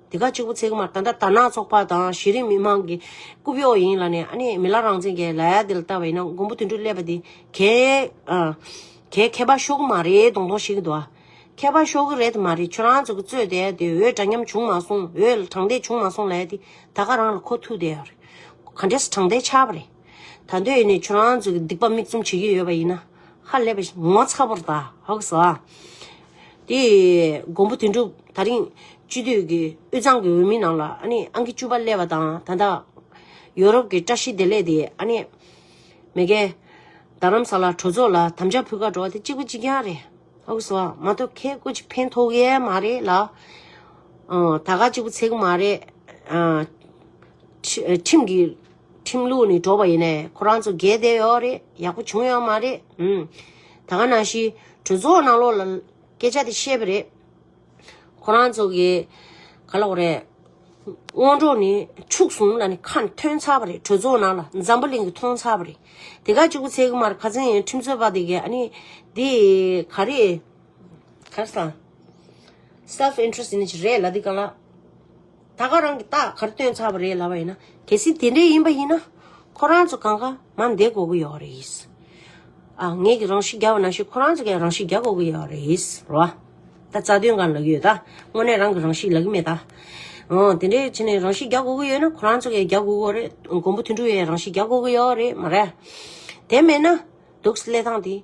དེ་ག་གཅིག་པུ་ཚེག་མར་ད་འདྲ་དར་ནག་ཚོགས་པ་དང་གཞི་རིམ་མི་དམངས་ཀྱི་རྐུབ་གཡོག་ཡིན་ལ་ནས་ཨ་ནི་མི་ལ་རང་བཙན་གྱི་ལ་ཡ་དེ་ལ་ལྟ་བའི་ནང་མགོན་པོ་དུད་འགྲོ་སླེབས་པ་དེ་གས་གས་མཁས་པ་ཤོག་གི་མ་རེད་དོང་དོང་ཤིག་གི་འདུག་ཨ། མཁས་པ་ཤོག་གི་རེད་དེ་མ་རེད་ཁྱོད་རང་ཚོ་གི་རྩོད་དེ་དེ་འོས་འདྲ་མཉམ་བྱུང་མ་སོང་འོས་དྲང་བདེན་བྱུང་མ་སོང་ལ་ཡ་དེ་ད་ག་རང་ལ་ཁོ་ཐུག་དེ་ཡ་རེད། ག་འདྲས་ས་དྲང་བདེན་ཆགས་པ་རེད། ད་འདོད་ནས་ཁྱོད་རང་ཚོས་སྡིག་པ་མིག་བཙུམ་བྱེད་ཀྱི་ཡོད་པ་ཡིན་ན། ཧ་ལས་པ་ཞིག་ངོ་ཚ་པོར་ད་ཧོག་སོ། དེ་མགོན་པོ་དོན་གྲུབ་ད་རིང་སྤྱི་འཐུས་ཀྱི་དབུས་གཙང་གི་འོས་མི་ནང་ལ་ཨ་ནི་ཨང་ཀི་བཅུ་པ་སླེབས་པ་དང་ད་ལྟ་ཡོ་རོབ་ཀྱི་བཀྲ་ཤིས་བདེ་ལེགས་དེ་ཨ་ནི། མེ་གྷལ། རྡ་རམ་ས་ལ་གྲོས་ཚོགས་ལ་དམ་བཅའ་ཕུལ་ཁ་འགྲོ་བ་དེ་གཅིག་པུ་གཅིག་རྐྱང་རེད་ཧོག་གི་སོ། མ་གཏོགས་ཁྱེད་སྐུ་གཅིག་ཕན་ཐོག་ཡས་མ་རེད་ལ། ད་ག་གཅིག་པུ་ཚེ་གུ་མ་རེད། ཁྲིམས་ཀྱི། ཁྲིམས་ལུགས་ནི་འགྲོ་བ་ཡིན་ནས་ཁོ་རང་ཚོ་རྒས་བསྡད་ཡོད་རེད་ཡག་པོ་བྱུང་ཡོད་མ་རེད་ཨང། ད་ག་ན་ཞིག་གྲོས་ཚོགས་ནང་ལོག་ལ་སྐད་ཆ་དེ་བཤད་པ་རེད། ཁོ་རང་ཚོ་གི་ག་ལ་བ་རེད། སྔོན་འགྲོ་ནི་ཕྱུགས་ཟུང་ལ་ནི་ཁ་ཐོན་ཚར་བ་རེད་གྲོས་ཚོགས་ནང་ལ་འཛམ་བུ་གླིང་གི་མཐོང་ཚར་བ་རེད། དེ་ག་གཅིག་པུ་ཚེ་གི་མར་ཁ་ཚིང་ཁྲིམས་རྩོད་པ་དེ་ག་ནི་དེ་ག་རེད། ཁར་སང self interest ནི་རེད་ལ་དེ་ག་ལ། ད་ག་རང་གི་རྟགས་གར་སྟོན་ཚར་བ་རེད་ལབ་པ་ཡིན་ན་གལ་སྲིད་དེ་འདྲས་ཡིན་པ་ཡིན་ན་ཁོ་རང་ཚོ་གང་གང་མ་འདས་དགོ་གི་ཡོད་རེད། ཨ་ངས་ཀྱི་རང་ཤི་རྒྱག་པ་ན་ཤི་ཁོ་རང་ཚོ་གས་རང་ཤི་རྒྱག་དགོ་གི་ཡོད་རེད་རོ། ད་རྩ་དོན་གང་ལག་ཡོད་ད་དངོས་གནས་རང་གི་རང་ཤི་ལག་གི་མེད་ད། འོ་དེ་འདྲས་བྱས་ནས་རང་ཤི་རྒྱག་དགོ་གི་ཡོད་ན་ཁོ་རང་ཚོ་གས་རྒྱག་དགོ་གི་རེད་མགོན་པོ་དོན་གྲུབ་ཡས་རང་ཤི་རྒྱག་དགོ་གི་ཡོད་རེད་མ་རེད། དེ་མེད་ན་དུག་སེལ་ལས་ཐང་དེ།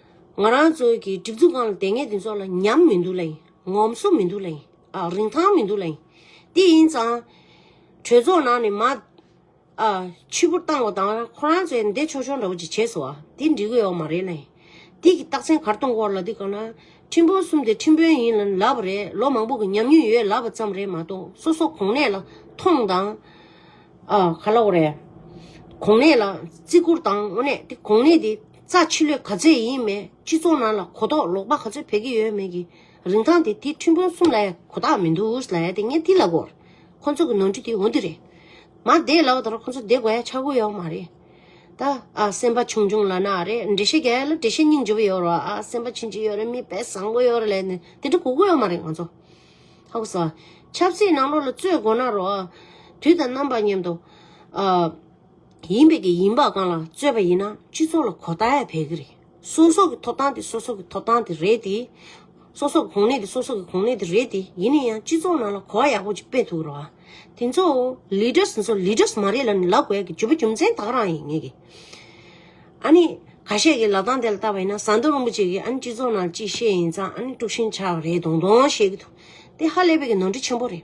ང་རང་ཚོ་གི་སྒྲིག་འཛུགས་ཁང་ལ་དེ་སྔའི་དེ་ཚོ་ལ་ཉམས་མི་འདུག་ལ་ཡིན། ངོམ་སོ་མི་འདུག་ལ་ཡིན། ཨ། རིན་ཐང་མི་འདུག་ལ་ཡིན། དེ་ཡིན་ཙང། གྲོས་ཚོགས་ནང་ནས་མ། ཨ། ཕྱི་བུར་བཏང་བ་དང་ཁོ་རང་ཚོས་འདེད་ཆོག་ཆོག་འདྲ་བོ་ཅིག་བྱས་སོ། དེ་འགྲིག་གི་ཡོག་མ་རེད་ལ་ཡིན། དེ་གི་རྟགས་མཚན་གར་གཏོང་སྐོར་ལ་དེ་གང་ན། ཁྲིམས་དཔོན་གསུམ་དེ་ཁྲིམས་དཔོན་ཡིན་ལབ་པ་རེད་ལོ་མང་པོ་གི་ཉམས་མྱོང་ཡོད་ལབ་པ་ཙམ་རེད་མ་གཏོགས་སོ་སོ་གོང་ནས་ལ་ཐོངས་དང། ཨ། ག་ལ་འོ་རེད། གོང་ནས་ལ་བརྩི་བཀུར་དང་འོ་ནས་དེ་གོང་ནས་དེ། རྩ་ཆེ་ལོས་ག་ཚད་ཡིན་མེད་སྤྱི་ཚོགས་ནང་ལ་གོ་རྟོགས་ལོག་པ་ག་ཚོད་འཕེལ་གྱི་ཡོད་མེད་ཀྱི་རིན་ཐང་དེ་དེ་ཁྲིམས་དཔོན་གསུམ་ལ་ཡང་གོ་ཐག་མི་འདུག་ཟླ་ཡ་དེ་ངས་འདི་ལབ་བོར་ཁོ་ཚོ་གི་ནོར་འཁྲུལ་དེ་འོ་འདི་རེད་མ་བསྡད་ལབ་བ་ད་རུང་ཁོ་ཚོ་བསྡད་དགོས་ཡ་ཆགས་དགོས་ཡོད་མ་རེད་ད་ཨ་སེམས་པ་ཆུང་ཆུང་ལ་ན་རེ་འགྲེལ་བཤད་རྒྱ་ཡ་ལ་འགྲེལ་བཤད་སྙིང་རྗེ་བོ་ཡོད་རོགས་ཨ་སེམས་པ་ཕྱིན་ཅི་ཡོད་རེད་མི་དཔེ་བཟང་པོ་ཡོད་རེད་ལས་ནི་དེ་འདྲ་གོ་དགོས་ཡོད་མ་རེད་ང་ཚོ་ཧ་གོ་ས་ཆབ་སྲིད་ནང་ལོག་ལ་རྩོད་དགོས་ན་རོགས་ཨ་དུས་དང་རྣམ་པ་མཉམ་དུ་ཨ། ཡིན་པའི་གི་ཡིན་པ་གང་ལ་རྩོད་པ་ཡིན་ན་སྤྱི་ཚོགས་ལ་གོ་བརྡ་ཡ་བས་གི་རེད་སོ་སོ་གི་ཐོབ་ཐང་དེ་སོ་སོ་གི་ཐོབ་ཐང་དེ་རེད་དེ། སོ་སོ་གི་གོང་ནད་དེ་སོ་སོ་གི་གོང་ནད་དེ་རེད་དེ་ཡིན་ན་ཡང་སྤྱི་ཚོགས་ནང་ལ་གོ་བ་ཡག་པོ་ཅིག་སྤེལ་ཐུག་རོགས་ཨ། དེ་ཚོ Leaders ཚོ Leaders མ་རེད་ལ་ནི་ལབ་དགོས་གི་ཇོ་བོ་རྒྱུ་མཚན་དག་རང་ཡིན་ངེས་གི། ཨ་ནི་ག་ཤེད་གི་ལབ་སྟངས་དེ་ལ་བལྟ་བ་ཡིན་ན་ཟངས་མདོག་རིན་པོ་ཆེ་གི་ཨ་ནི་སྤྱི་ཚོགས་ནང་ལ་ཅིག་བཤད་ཡིན་ཙང་ཨ་ནི་དཀྲུགས་ཤིང་ཆགས་རེད་དོང་དོང་བཤད་གི་འདུག་དེ་ཧ་ལས་པའི་གི་ནོར་འཁྲུལ་ཆེན་པོ་རེད།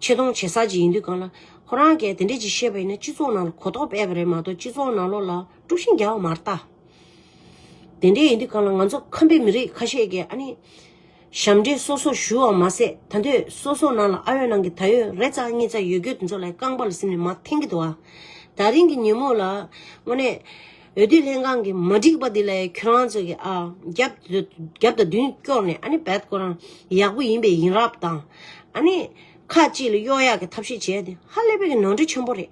ཆེ་མཐོང་བྱེད་ས་ཅིག་ཡིན་དུས་གང་ལ། ཁོ་རང་གས་དེ་འདྲས་ཅིག་བཤད་པ་ཡིན་ན་སྤྱི་ཚོགས་ནང་ལ་གོ་རྟོགས་སྤེལ་བ་རེད་མ་གཏོགས་སྤྱི་ཚོགས་ནང་ལོགས་ལ་དཀྲུགས་ཤིང་རྒྱག་བ་མ་རྟགས། དེ་འདྲས་ཡིན་དུས་གང་ལ་ང་ཚོ་ཁམས་པའི་མི་རིགས་ཁ་ཤས་ཀྱིས་ཨ་ནི། ཞབས་འདྲེན་སོ་སོར་ཞུ་བ་མ་ཟད་ད་ཐོད་སོ་སོ་ནང་ལ་ཨ་ཡོད་ནང་གི་ད་ཡོད་རེ་ཙག་གཉིས་ཙག་ཡོད་རྒྱུ་དེ་ཚོ་ལ་རྐང་པ་ལ་སིམ་ནས་མ་འཐེན་གི་འདུག་ཨ། ད་རིང་གི་ཉིན་མོ་ལ་དངོས་གནས། འོས་བསྡུ་ལྷན་ཁང་གི་མ་འགྲིག་པ་འདི་ལ་ཁྱོད་རང་ཚོ་གི་ཨ་རྒྱབ་རྒྱབ་དང་མདུན་སྐྱོར་ནས་ཨ་ནི་བལ་ཁོ་རང་ཡག་པོ་ཡིན་པའི་ཡིན་རབས་དང་ཨ་ནི་ཁ་ཅིག་ལ་གཡོག་ཡག་གི་ཐབས་ཤེས་བྱས་དེ་ཧ་ལས་པའི་གི་ནོར་འཁྲུལ་ཆེན་པོ་རེད་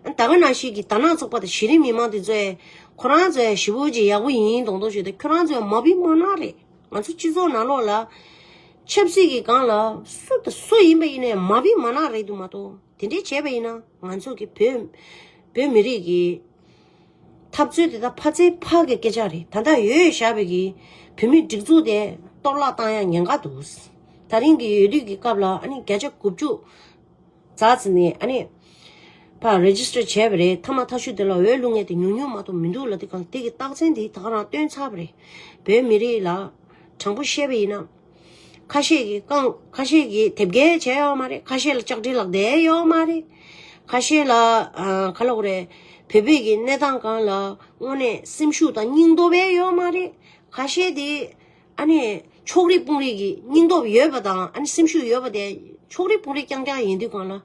ཨ་ད་ག་ནང་ཞིག་གི་དར་ནག་ཚོགས་པ་དང་གཞི་རིམ་མི་མང་དེ་ཚོའི་ཁོ་རང་ཚོ་ཞི་བོ་ཅིག་ཡག་པོ་ཡིན་ཡིན་མདོག་མདོག་བྱོས་ཏེ་ཁྱོད་རང་ཚོ་མ་བི་མ་ནག་རེད་ང་ཚོ་སྤྱི་ཚོགས་ནང་ལོག་ལ་ཆབ་སྲིད་གི་སྒང་ལ་སུ་དང་སུ་ཡིན་པ་ཡིན་ནའི་མ་བི་མ་ནག་རེད་དུ་མ་གཏོགས་དེ་འདྲས་བྱས་པ་ཡིན་ན་ང་ཚོ་གི་བོད་བོད་མི་རིགས་གི། འཐབ་རྩོད་དེ་དག་ཕ་ཚའི་ཕག་གི་སྐད་ཆ་རེད་ད་ལྟ་ཡོད་ཡོད་ཞར་བས་ཀྱི་བུད་མེད་སྒྲིག་འཛུགས་དེ་གཏོར་བརླག་བཏང་ཡག་ཉེན་ཁ་འདུག་ད་རིང་གི་ཡོད་དུས་ཀྱི་སྐབས་ལ་ཨ་ནི་བརྒྱ་ཆ་དགུ་བཅུ་རྫ་ཙི་ནས་ཨ་ནི་བ register བྱས་པ་རེད་ཐ་མ་ཐ་ཤུ་དེ་ལ་འོས་བླུག་ངེས་དེ་ཉུང་ཉུང་མ་གཏོགས་མི་འདུག་ལ་དེ་གང་དེ་གི་རྟགས་མཚན་དེ་དག་རང་སྟོན་ཚར་བ་རེད་བོད་མི་རིགས་ལ་དྲང་པོ་བཤད་པ་ཡིན་ན། ཁ་ཤས་ཀྱིས་རྐང་ཁ་ཤས་ཀྱིས་དེབ་སྐྱེལ་བྱས་ཡོད་མ་རེད་ཁ་ཤས་ལ་ལྕགས་དྲིལ་ལག་དེད་ཡོད་མ་རེད་ཁ་ཤས་ལ་ཁ་ལོ་རེད་བོད་པའི་གི་གནས་སྟངས་གང་ལ་དངོས་གནས་སེམས་ཤུགས་དང་སྙིང་སྟོབས་ཡས་ཡོད་མ་རེད་ཁ་ཤས་དེ་ཨ་ནི་ཕྱོགས་རིས་དཔུང་རིས་ཀྱི་སྙིང་སྟོབས་ཡོད་པ་དང་ཨ་ནི་སེམས་ཤུགས་ཡོད་པ་དེ་ཕྱོགས་རིས་དཔུང་རིས་རྐྱང་རྐྱང་ཡིན་དུས་གང་ལ་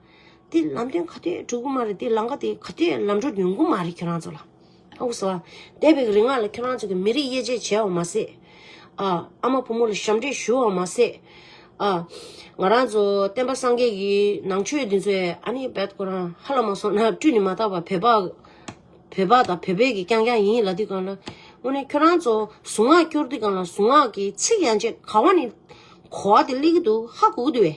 དེ་ལམ་སྟོན་ག་དུས་གྲུབ་གི་མ་རེད་དེ་ལམ་ཀ་དེ་ག་དུས་ལམ་འགྲོ་ཡོང་གི་མ་རེད་ཁྱོད་རང་ཚོ་ལ། ཨུ་སུ། དེ་བས་རིག་སྔགས་ལ་ཁྱོད་རང་ཚོ་གི་མི་རིགས་དབྱེ་འབྱེད་བྱས་བ་མ་ཟད། ཨ། ཨ་མ་བུ་མོ་ལ་ཞབས་འདྲེན་ཞུ་བ་མ་ཟད། ཨ། ང་རང་ཚོ་བསྟན་པ་སངས་རྒྱས་ཀྱི་ནང་ཆོས་འདི་ཚོའི་ཨ་ནི་བད་ཁོ་རང་ཧ་ལ་མ་སོང་ན་བཀྲུས་ནི་མ་བཏགས་པར་བོད་པ། བོད་པ་དང་བོད་བོད་ཀྱི་རྐྱང་རྐྱང་ཡིན་ལ་དུས་གང་ལ། དངོས་གནས་ཁྱོད་རང་ཚོ་གཟུངས་སྔགས་སྐྱོར་དུས་གང་ལ་གཟུངས་སྔགས་ཀྱི་ཚིག་ཡང་ཆད་ག་བ་ནི་གོ་བ་དེ་གླེགས་གི་འདུག་ཧ་གོ་གི་འདུག་བས།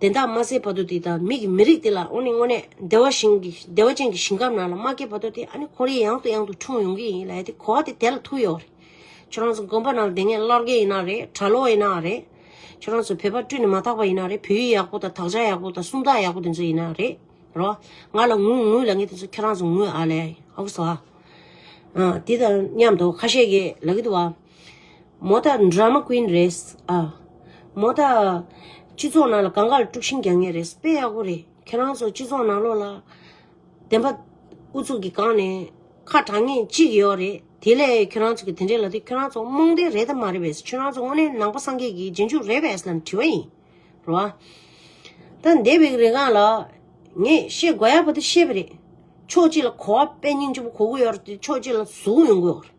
དེ་དག་མ་ཟད་བར་དོ་དེ་དང་མིག་གི་མི་རིགས་དེ་ལ་ཨོ་ནི་དངོས་གནས་བདེ་བ་ཞིང་གི་བདེ་བ་ཅན་གྱི་ཞིང་ཁམས་ནང་ལ་མ་སྐྱེས་བར་དོ་དེ་ཨ་ནི་ཁོར་ཡེ་ཡང་དུ་ཡང་དུ་འཁྲུངས་ཡོང་གི་ཡིན་ལ་ཡ་དེ་གོ་བ་དེ་དེ་ལ་ཐུག་ཡོད་རེད། ཁྱོད་རང་ཚོ་དགོན་པ་ནང་དེ་སྔའི་སླར་རྒན་ཡིན་ན་རེད་གྲྭ་ལོག་ཡིན་ན་རེད། ཁྱོད་རང་ཚོ་བོད་པ་བཀྲུས་ནས་མ་ཐག་པ་ཡིན་ན་རེད་བོད་ཡིག་ཡག་པོ་དང་དག་ཆ་ཡག་པོ་དང་སུམ་རྟགས་ཡག་པོ་དེ་ཚོ་ཡིན་ན་རེད་རོ། ང་ལ་དངུལ་དངུལ་ལ་ངས་དེ་ཚོ་ཁྱོད་རང་ཚོ་དངུལ་ཨ་ལས་ཨོ་བསོ་ཨ། འདི་དང་མཉམ་དུ་ཁ་ཤས་ཀྱིས་ལ་གི་འདུག་བ། མོ་ད Drama Queen རེད། ཨ། མོ་ད། སྤྱི་ཚོགས་ནང་ལ་གངས་དཀར་དཀྲུགས་ཤིང་རྒྱག་ངེས་རེད། དཔེ་ཡག་པོ་རེད། ཁྱེད་རང་ཚོ་སྤྱི་ཚོགས་ནང་ལོགས་ལ། བདེན་པ། ཨུ་ཚུགས་ཀྱིས་གང་ནས། ཁ་གྲགས་ངེས་གཅིག་ཡོད་རེད། དེ་ལས་ཁྱོད་རང་ཚོ་གི་དེ་འདྲས་ལ་དེ་ཁྱོད་རང་ཚོ་རྨོངས་དད་རེད་དམ་མ་རེད་བས་ཁྱོད་རང་ཚོ་དངོས་གནས་ནང་པ་སངས་རྒྱས་ཀྱི་རྗེས་འཇུག་རེད་བས་ལ་དྲི་བ་ཡིན། རོ་ཨ། ད་འདས་པའི་རིང་གངས་ལགས། ངས་བཤད་དགོས་ཡག་པོ་དེ་བཤད་པ་རེད། ཕྱོགས་གཅིག་ལ་གོ་བ་དཔེ་སྙིང་རྗེ་པོ་གོ་དགོས་ཡོད་རེད་དེ་ཕྱོགས་གཅིག་ལ་ཟུག་རུང་ཡོང་དགོས་ཡོད་རེད།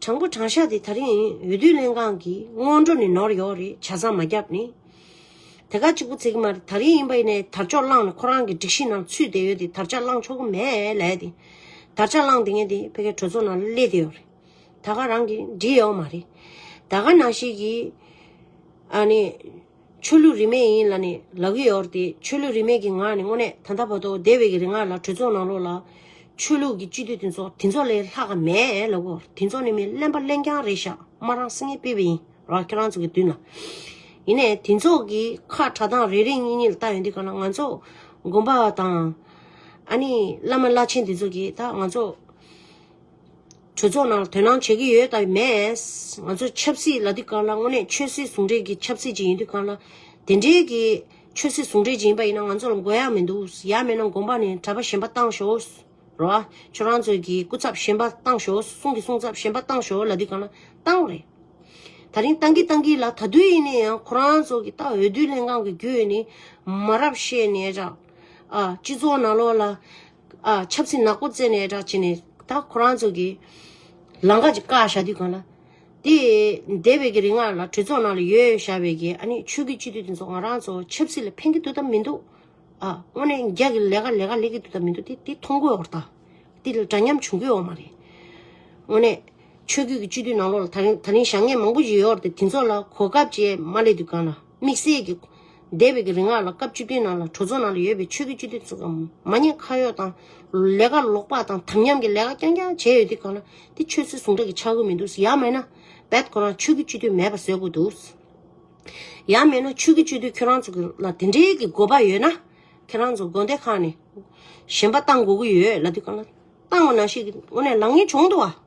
དྲང་པོ་དྲང་ཤག་དེ་ད་རིང་འོས་བསྡུ་ལྷན་ཁང་གི་སྔོན་འགྲོ་ནས་ནོར་ཡོད་རེད་བྱ་བཟང་མ་རྒྱབ་ནས། དེ་ག་གཅིག་པོ་ཚེག་མར་ད་རིང་ཡིན་པ་ཡིན་ནའི་དར་ཅོག་བླངས་ནས་ཁོ་རང་གི་སྒྲིག་གཞི་ནང་ཚུད་བསྡད་ཡོད་དེ་དར་ཅག་བླངས་ཆོག་གི་མེད་ལས་དེ། དར་ཅག་བླངས་དེ་ངས་དེ་ཕལ་སྐད་གྲོས་ཚོགས་ནང་སླེ་བསྡད་ཡོད་རེད་ད་ག་རང་གིས་འབྲི་ཡོད་མ་རེད། ད་ག་ནང་ཞིག་གིས། ཨ་ནི། ཆོས་ལུགས་རིས་མེད་ཡིན་ལ་ནི་ལག་གཡས་གཡོར་ཏེ་ཆོས་ལུགས་རིས་མེད་ཀྱི་ངག་ནི་དངོས་གནས་ད་ལྟ་བར་དོ་བདེ་བའི་གི་རེ་ང་ལ་གྲོས་ཚོགས་ནང་ལོགས་ལ། ཆོས་ལུགས་ཀྱི་སྤྱི་འཐུས་དེ་ཚོ་དེ་ཚོ་ལས་ལྷག་ག་མེད་ལབ་གོ་དེ་ཚོ་ནི་མི་གླེན་པ་གླེན་རྐྱང་རེད་ཤག་མ་རང་སེ་ངེ་སྤེལ་བའི་ཡིན་ར་ཁྱེད་རང་ཚོ་གི་མདུན་ལ། ཡིན་ནས་དེ་ཚོ་གི་ཁ་གྲ་དང་རེ་རེ་གཉིས་གཉིས་ལ་བལྟ་ཡོང་དུས་ག་ལ་ང་ཚོ་དགོན་པ་དང། ཨ་ནི་བླ་མ་བླ་ཆེན་དེ་ཚོ་གི་ད་ང་ཚོ། གྲོས་ཚོགས་ནང་དོན་སྣང་བྱེད་ཀྱི་ཡོད་དང་མེད། ང་ཚོ་ཆབ་སྲིད་ལ་དུས་གང་ལ་དངོས་གནས་ཆོས་སྲིད་ཟུང་འབྲེལ་གྱི་ཆབ་སྲིད་ཅིག་ཡིན་དུས་གང་ལ་དེ་འབྲེལ་གྱི་ཆོས་སྲིད་ཟུང་འབྲེལ་ཅིག་ཡིན་པ་ཡིན་ན་ང་ཚོ་ལ་མགོ་ཡག་མི་འདུག་ཡག་མེད་ན་དགོངས་པ་ནི་གྲྭ་པ་གཞན་པ་བཏང་ཞོག་ར་བ། ཁྱོད་རང་ཚོས་ཀྱི་སྐུ་ཚབ་གཞན་པ་བཏང་ཞོག་གསུང་གི་གསུང་ཚབ་གཞན་པ་བཏང་ཞོག་ལ་དུས་གང་ལ་བཏང་རེད། ད་རིང་བཏང་གི་བཏང་གི་ལ་ད་དུས་ཡིན་ནའི་ཡང་ཁོ་རང་ཚོ་གི་ཏང་འོས་བསྡུ་ལྷན་ཁང་གི་རྒྱུས་ནི་མ་རབས་བཤད་ནས་ར་བ། སྤྱི་ཚོགས་ནང་ལོགས་ལ། ཨ་ཆབ་སྲིད་ནག་པོ་བཙལ་ནས་བསྒྲགས་བྱས་ནས་ད་ཁོ་རང་ཚོ་གི། ལང་ཀ་གཅིག་བཀག་བཞག་དུས་གང་ལ། དེ་འདས་པའི་གི་རིང་ང་ལ་གྲོས་ཚོགས་ནང་ལ་ཡོད་བཞག་པའི་གི་ཨ་ནི་ཆོས་གི་སྤྱི་འཐུས་དེ་ཚོ་ང་རང་ཚོ་ཆབ་སྲིད་ལ་ཕན་གི་འདུག་དང་མི་འདུག་ཨ་དངོས་གནས་རྒྱ་གི་ལས་ཀ་ལས་ཀ་ལས་གི་འདུག་དང་མི་འདུག་དེ་དེ་མཐོང་དགོས་བ་རེད་ད། དེ་ལ་འདྲ་མཉམ་བྱུང་དགོས་བ་མ་རེད། དངོས་གནས་ཆོས་གི་སྤྱི་འཐུས་ནང་ལོགས་ལ་ད་རིང་ད་རིང་བཞག་ངན་མང་པོ་ཞིག་ཡོད་བ་རེད་དེ་ཚོ་ལ་གོ་སྐབས་བཅས་མ་སླེབས་དུས་གང་ལ། དམིགས་བསལ་གྱི། འདས་པའི་གི་རིང་ལ་ལ་སྐབས་བཅུ་བདུན་ནང་ལ་གྲོས་ཚོགས་ནང་ལ་ཡོད་པའི་ཆོས་ཀྱི་སྤྱི་འཐུས་ཚོ་མ་ཉེས་ཁ་གཡོག་དང། ལས་ཀ་ལོག་པ་དང་དམ་ཉམས་ཀྱི་ལས་ཀ་རྐྱང་རྐྱང་བྱས་ཡོད་དུས་གང་ལ་དེ་ཆོས་ཚོའི་ཟུང་འབྲེལ་གྱི་ཆ་དགོས་མི་འདུག་ཡག་མེད་ན། འབད་དགོས་རང་ཆོས་ཀྱི་སྤྱི་འཐུས་མེད་པ་བཟོས་དགོས་འདུག། ཡག་མེད་ན་ཆོས་ཀྱི་སྤྱི་འཐུས་ཁྱོད་རང་ཚོ་གི་ལ་དེ་འདྲའི་གི་དགོས་པ་ཡོད་ན། ཁྱེད་རང་ཚོ་དགོན་སྡེ་ཁག་ནས། གཞན་པ་བཏང་དགོས་གི་ཡོད་ལ་དུས་གང་ལ། བཏང་བ་ནང་བཞིན་གི་དངོས་གནས་ལག་ངན་བྱུང་འདུག་བ།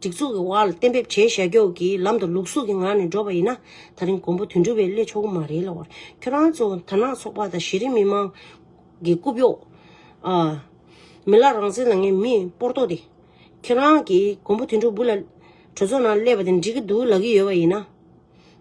སྒྲིག་འཛུགས་ཀྱི་དབར་ལ་གཏན་འབེབས་བྱས་བཞག་སྐྱོགས་ཀྱི་ལམ་དུ་ལུགས་གཟུགས་ཀྱི་ངང་ནས་འགྲོ་བ་ཡིན་ན་ད་རིང་མགོན་པོ་དོན་གྲུབ་པའི་སླད་ཆོག་གི་མ་རེད་ལ་བར་ཁྱོད་རང་ཚོ་དར་ནག་ཚོགས་པ་དང་གཞི་རིམ་མི་མང་གི་རྐུབ་གཡོག་ཨ། མི་ལ་རང་བཙན་ལ་ངས་མི་སྤོར་ལྟོ་དེ། ཁྱོད་རང་གིས་མགོན་པོ་དོན་གྲུབ་བུ་ལ་གྲོས་ཚོགས་ནང་སླེབས་པ་དེ་འགྲིག་གི་འདུག་ལབ་ཀྱི་ཡོད་པ་ཡིན་ན།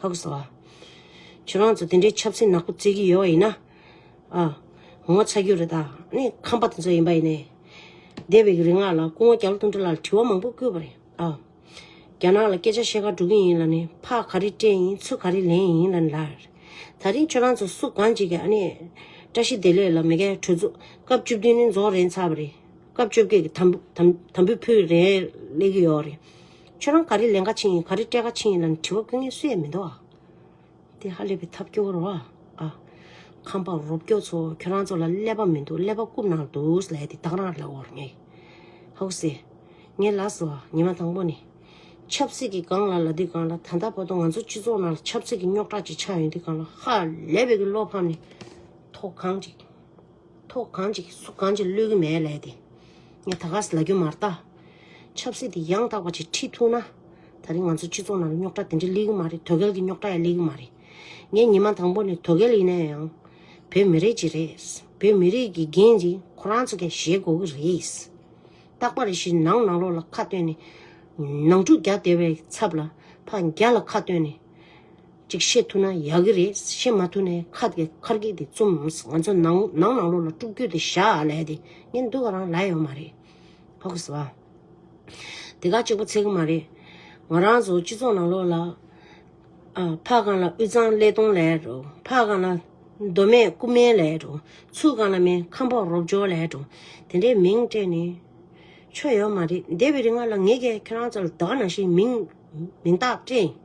ཕག་གསོ་བ། ཁྱོད་རང་ཚོ་དེ་འདྲའི་ཆབ་སྲིད་ནག་པོ་བརྩི་གི་ཡོད་བ་ཡིན་ན། ཨ། ངོ་ཚ་རྒྱུ་རེད་ད། ནི་ཁམས་པ་དེ་ཚོ་ཡིན་པ་ཡིན་ནའི། འདས་པའི་རིག་སྔགས་ལ་སྐུ་ངོ་རྒྱ་ལོ་ཐུང་གྲི་ལ་ལ་དྲི་བ་མང་པོ་བསྐུལ་བ་རེད་ཨ། རྒྱ་ནག་ལ་སྐད་ཆ་བཤད་ཁ་འགྲོ་གི་ཡིན་ལ་ནི་ཕག་ག་རེ་སྤྲད་ཡིན་ཚུ་ག་རེ་ལེན་ཡིན་ལ་ནི་ལར། ད་རིང་ཁྱོད་རང་ཚོ་སུ་གང་ཅིག་གིས་ཨ་ནི། བཀྲ་ཤིས་བདེ་ལེགས་ལ་མི་ཁའི་གྲོས་འཛུགས་སྐབས་བཅུ་བདུན་ནི་རྫོགས་རན་ཚར་བ་རེད། སྐབས་བཅོ་བརྒྱད་ཀྱི་དམ་དམ་དམ་བུ་ཕུལ་རན་ལེགས་ཀྱི་ཡོད་རེད། ཁྱོད་རང་ག་རེ་ལས་འགའ་ཕྱིན་ཡིན་ག་རེ་སྤྲད་འགའ་ཕྱིན་ཡིན་ལ་ནི་དྲི་བ་ཕུལ་ངེས་སུ་ཡེ་མི་འདུག་ཨ། དེ་ཧ་ལས་པའི་ཐབས་སྐྱོ་བོ་རོ་ཨ། ཁམས་པ་རོབ་ཀྱོ་ཚོ་ཁྱོད་རང་ཚོ་ལ་ཀླད་པ་མི་འདུག་ཀླད་པ་རྐུབ་ནང་དུ་འདུག་ལས་དེ་དག་རང་ལ་འོར་ངེས། ཧཱུྃ་སི། ངའི་ལགས་སོ་ཉི་མ་དང་པོ་ནི། ཆབ་སྲིད་ཀྱི་སྒང་ལ་ལ་འདི་སྒང་ལ་ད་ལྟ་བར་དུ་ང་ཚོ་སྤྱི་ཚོགས་ནང་ལ་ཆབ་སྲིད་ཀྱི་རྙོག་དྲ་ཅིག་ཆགས་ཡོད་འདི་སྒང་ལ་ཧ་ལས་པའི་གི་བློ་ཕམ་ནི་ཐོག་ཁང་ཅིག། ཐོག་གང་ཅིག་སུ་གང་ཅིག་བློས་ཀྱི་མེད་ལས་དེ། ངས་ད་ག་ཟེ་ལ་རྒྱུ་མར་བལྟ། ཆབ་སྲིད་དེ་ཡང་དག་པ་ཅིག་ཁྲིད་ཐུག་ན། ད་རིང་ང་ཚོ་སྤྱི་ཚོགས་ནང་ལ་རྙོག་དྲ་དེ་འདྲ་སླེ་གི་མ་རེད་དོལ་རྒལ་གྱི་རྙོག་དྲ་ཡང་སླེ་གི་མ་རེད། ངས་ཉི་མ་དང་པོ་ནས་དོལ་རྒལ་ཡིན་ན་ཡང། བོད་མི་རིགས་ཅིག་རེད། བོད་མི་རིགས་ཀྱི་འགན་འདི་ཁོ་རང་ཚོ་ཀྱང་བཞེས་དགོས་ཀྱི་རེད། རྟག་པར་རེ་ཞིག་ནང་ནང་ལོག་ལ་ཁ་བཏོན་ནས། ནང་འཁྲུག་རྒྱག་བདེ་བའི་ཚབ་ལ་ཕ་རྒྱ་ལ་ཁ་བཏོན་ནས། ཅིག་བཤད་ཐུབ་ན་ཡག་གི་རེད་བཤད་མ་ཐུབ་ནས་ཁ་དེ་ཁར་གིག་དེ་བཙུམ་ང་ཚོ་ནང་ནང་ནང་ལོག་ལ་དཀྲུག་རྒྱུ་དེ་ཞག་ལས་དེ་ངན་འདུག་ག་རང་ལས་ཡོད་མ་རེད་ཕོ་ཁ་ཟ་བ་དེ་ག་གཅིག་པོ་ཚེ་གི་མ་རེད་ང་རང་ཚོ་སྤྱི་ཚོགས་ནང་ལོག་ལ་ཨ་ཕ་གང་ལ་དབུས་གཙང་ཀླད་སྟོང་ལས་རོ་ཕ་གང་ལ་མདོ་སྨད་སྐུ་སྨད་ལས་རོ་ཚུ་གང་ལ་མེན་ཁམས་ཕོག་རོབ་ཇོ་ལས་རོ་དེ་འདྲའི་མིང་སྤྲད་ནས་ཆོ་ཡོད་མ་རེད་འདས་པའི་རི་ང་ལ་ངེད་ཀྱི་ཁྱེད་རང་ཚོ་ལ་དགའ་ན་ཞིག་མིང་མིང་རྟགས་སྤྲད།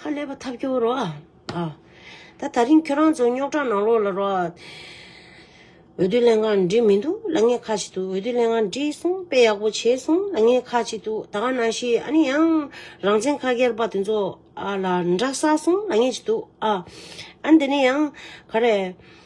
ཧ་ལས་པ་ཐབས་སྐྱོ་རོགས་ཨ། ད་ད་རིང་ཁྱོད་རང་ཚོ་རྙོག་དྲ་ནང་ལོག་ལ་རོགས། འོས་བསྡུ་ལས་འགང་འབྲི་མི་འདུག་ལ་ངས་ཁ་ཅིག་ཏུ་འོས་བསྡུ་ལས་འགང་འབྲི་སོང་དཔེ་ཡག་པོ་བྱས་སོང་ལ་ངས་ཁ་ཅིག་ཏུ་ད་ག་ན་ཤི་ཨ་ནི་ཡང་རང་བཙན་ཁ་གྱེར་པ་དེ་ཚོ་ཨ་ལ་འདྲ་ས་སོང་ལ་ངས་ཅིག་ཏུ་ཨ། ཨ་འདི་ནི་ཡང་ག་རེ།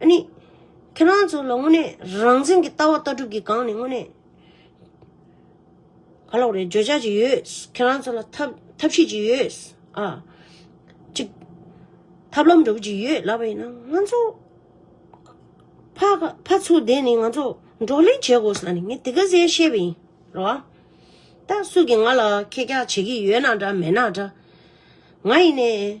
ཨཱ་ནི། ཁྱེད་རང་ཚོ་ལ་དངོས་གནས་རང་བཙན་གྱི་ལྟ་བ་ལྟ་གྲུབ་ཀྱི་སྒང་ནས་དངོས་གནས་ག་ལོག་རེད་བརྗོད་བྱ་གཅིག་ཡོད། ཁྱེད་རང་ཚོ་ལ་ཐབས་ཤེས་གཅིག་ཡོད། ཨ། གཅིག། ཐབས་ལམ་འདྲ་པོ་གཅིག་ཡོད་ལབ་པ་ཡིན་ན་ང་ཚོ། ཕ་ཚོ་བསྡད་ནས་ང་ཚོ་བགྲོ་གླེང་བྱེད་དགོས་ས་ནི་ངས་དེ་ག་ཟེ་བཤད་པ་ཡིན། རེད་བ། ད་སུ་གིས་ང་ལ་ཁེར་རྒྱག་བྱེད་ཀྱི་ཡོད་ན་འདྲ་མེད་ན་འདྲ། ང་ཡིན་ནའི།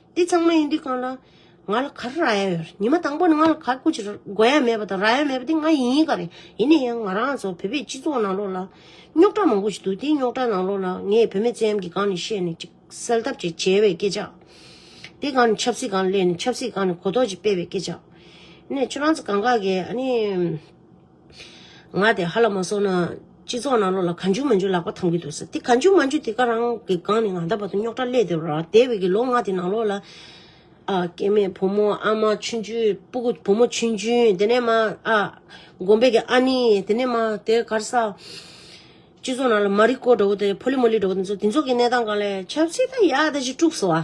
འདི་ཚང་མ་ཡིན་འདི་གང་ལ་ང་ལ་ག་རེ་རག་ཡ་ཡོད་ཉི་མ་དང་པོ་ནས་ང་ལ་ག་ཀུ་ཅི་དགོས་ཡ་མེད་པ་དང་རག་ཡ་མེད་པ་དེ་ང་ཡིན་ག་རེ་ཡིན་ནས་ཡང་ང་རང་ཚོ་བོད་པའི་སྤྱི་ཚོགས་ནང་ལོགས་ལ་རྙོག་དྲ་མང་པོ་ཞིག་འདུག་དེ་རྙོག་དྲ་ནང་ལོགས་ལ་ངས་བོད་མའི་བཙན་གཡེམ་གྱི་སྒང་ནས་བཤད་ནས་ཅིག་སེལ་ཐབས་ཅིག་བྱེད་པའི་སྐད་ཆ་དེ་སྒང་ནས་ཆབ་སྲིད་སྒང་ལས་ནས་ཆབ་སྲིད་སྒང་ནས་གོ་རྟོགས་ཅིག་སྤེལ་བའི་སྐད་ཆ་ནས་ཁྱོད་རང་ཚོ་གང་ག་གི་ཨ་ནི། ང་དེ་ཧ་ལ་མ་སོང་ན། སྤྱི་ཚོགས་ནང་ལོགས་ལ་ག་འཇུག་མ་འཇུག་ལག་པ་འཐམ་གྱི་འདུག་ཟེར་དེ་ག་འཇུག་མ་འཇུག་དེ་ག་རང་གི་སྒང་ནས་ང་ད་བར་དུ་རྙོག་དྲ་སླད་དེ་རོ་དེ་བས་ཀྱི་ལོ་ང་དེ་ནང་ལོགས་ལ། ཨ། སྐྱེ་མེད་བུ་མོ་ཨ་མ་ཆུན་ཆུན་སྤུ་གུ་བུ་མོ་ཆུན་ཆུན་དེ་ནས་མ་ཨ། དགོན་པའི་ཀྱི་ཨ་ནི་དེ་ནས་མ་དེ་གར་ས། སྤྱི་ཚོགས་ནང་ལ་མ་རིག་སྐོར་འདྲ་བོ་དེ་ཕོ་ལི་མོ་ལི་འདྲ་བོ་དེ་ཚོ་དེ་ཚོ་གི་གནས་སྟངས་གང་ལས་ཆབ་སྲིད་ད་ཡག་ད་ཅིག་དཀྲུགས་སོ་ཨ།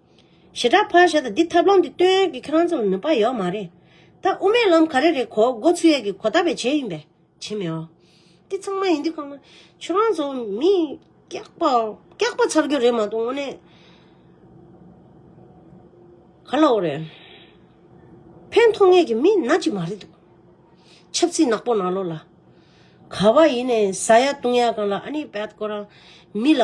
ཞེ་དྲག་ཕར་བཞག་དང་འདི་ཐབས་ལམ་འདི་སྟོན་ཡོད་ཀྱི་ཁྱེད་རང་ཚོ་ལ་ནུས་པ་ཡོད་མ་རེད། ད་དབུ་མའི་ལམ་ག་རེ་རེད་གོ་མགོ་ཚུད་ཡས་ཀྱི་གོ་བརྡ་བས་བྱས་ཡིན་པས་བྱེད་མི་འོ། འདི་ཚང་མ་ཡིན་དུས་ཁོ་ན་ཁྱོད་རང་ཚོ་མི་སྐྱག་པ་སྐྱག་པ་ཚར་རྒྱུ་རེད་མ་གཏོགས་དངོས་གནས་ག་ལ་འོ་རེད། ཕན་མཐོང་ངེས་ཀྱི་མི་ནག་ཅིག་མ་རེད་འདུག་ཆབ་ཚིག་ནག་པོ་ནག་ལོ་ལ། ག་བ་ཡིན་ནས་ཟ་ཡ་བཏུང་ཡ་གང་ལ་ཨ་ནི་བད་ཀོ་རང་མི་ལ་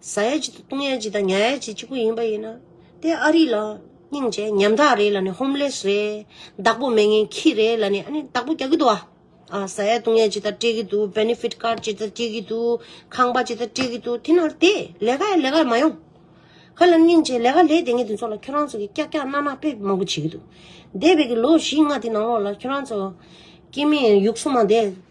བཟའ་ཡ་གཅིག་དང་བཏུང་ཡ་གཅིག་དང་ཉར་ཡ་གཅིག་གཅིག་པུ་ཡིན་པ་ཡིན་ན། དེ་ཨ་རི་ལ་སྙིང་རྗེ་ཉམ་ཐག་རེད་ལ་ནི་ཧོམ་ལེས་རེད། བདག་པོ་མེད་ངན་ཁྱི་རེད་ལ་ནི་ཨ་ནི་བདག་པོ་རྒྱག་གི་འདུག་ཨ། བཟའ་ཡ་བཏུང་ཡ་གཅིག་དང་སྤྲད་ཀྱི་འདུག Benefit Card གཅིག་དང་སྤྲད་ཀྱི་འདུག་ཁང་པ་གཅིག་དང་སྤྲད་ཀྱི་འདུག་དེ་ནོར་བདེ་ལས་ཀ་ཡ་ལས་ཀར་མ་ཡོང། ཁ་ལ་སྙིང་རྗེ་ལས་ཀ་ལས་དེ་ངས་དེ་ཚོ་ལ་ཁྱོད་རང་ཚོ་གི་ཀྱག་ཀྱག་རྣག་རྣག་ཕེབས་མང་པོ་བྱེད་ཀྱི་འདུག་འདས་པའི་གི་ལོ་བཞི་ལྔ་དེ་ནང་ལོགས་ལ་ཁྱོད་རང་ཚོ་ཀྱི་མིན་ཡུགས་སོ་མ་འདས།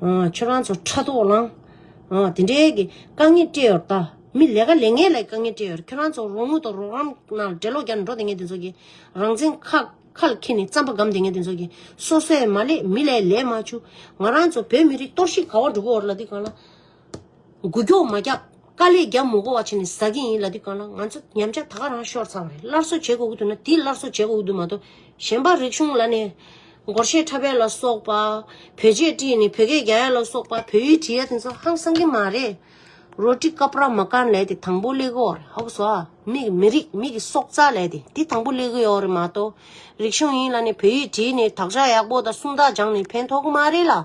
ཁྱོད་རང་ཚོ་ཕྲག་དོག་ལང། དེ་འདྲའི་གི་དཀའ་ངལ་སྤྲད་ཡོར་ད། མི་ལས་ཀ་ལས་ངན་ལ་དཀའ་ངལ་སྤྲད་ཡོར་ཁྱོད་རང་ཚོ་རོགས་དངུལ་དང་རོགས་རམ་ན་འགྲེ་ལོག་རྒྱག་ནས་འགྲོ་དེ་ངན་དེ་ཚོ་གི། རང་བཙན་ཁ་ཁལ་ཁེ་ནས་རྩམ་པ་སྒམ་དེ་ངན་དེ་ཚོ་གི། སོ་སོས་མ་ལས་མི་ལས་ལས་མ་བྱུ། ང་རང་ཚོ་བོད་མི་རིགས་གཏོར་ཤིག་ག་བ་འགྲོ་གི་འོར་ལ་དེ་གང་ལ། འགུལ་སྐྱོག་མ་བརྒྱབ་དཀའ་ལས་བརྒྱབ་མོ་གོ་བ་ཆེ་ནས་ཟ་གི་ཡིན་ལ་དེ་གང་ན་ང་ཚོ་ཉམས་ཆག་ད་ག་རང་ཤོར་ཚར་བ་རེད་སླར་གསོ་བྱེད་དགོས་ཀྱི་འདུག་ན་དེ་སླར་གསོ་བྱེད་དགོས་ཀྱི་འདུག་མ་གཏོགས་གཞན་པ་རིག་གཞུང་ལ་ནས་སྒོར་གཞས་ཁྲ་བལ་ལ་སོགས་པ་བོད་ཆས་བཀྲིས་ནས་བོད་སྐད་རྒྱ་ཡལ་ལ་སོགས་པ་བོད་ཡུལ་བྲིས་ཡ་དེ་ཚོ་ཧང་སང་གི་མ་རེད་རོ་ཀྲི་ཀ་པྲ་མ་ཀན་ལས་དེ་དང་པོ་གླེ་གོ་རེད་ཧོག་སོ་ཨ་མི་གི་མི་རིགས་མི་གི་སྲོག་རྩ་ལས་དེ་དེ་དང་པོ་གླེ་གི་ཡོག་རེད་མ་གཏོགས་རིག་གཞུང་ཡིན་ལ་ནས་བོད་ཡུལ་བྲིས་ནས་དག་ཆ་ཡག་པོ་དང་སུམ་རྟགས་སྦྱངས་ནས་ཕན་ཐོག་གི་མ་རེད་ལ།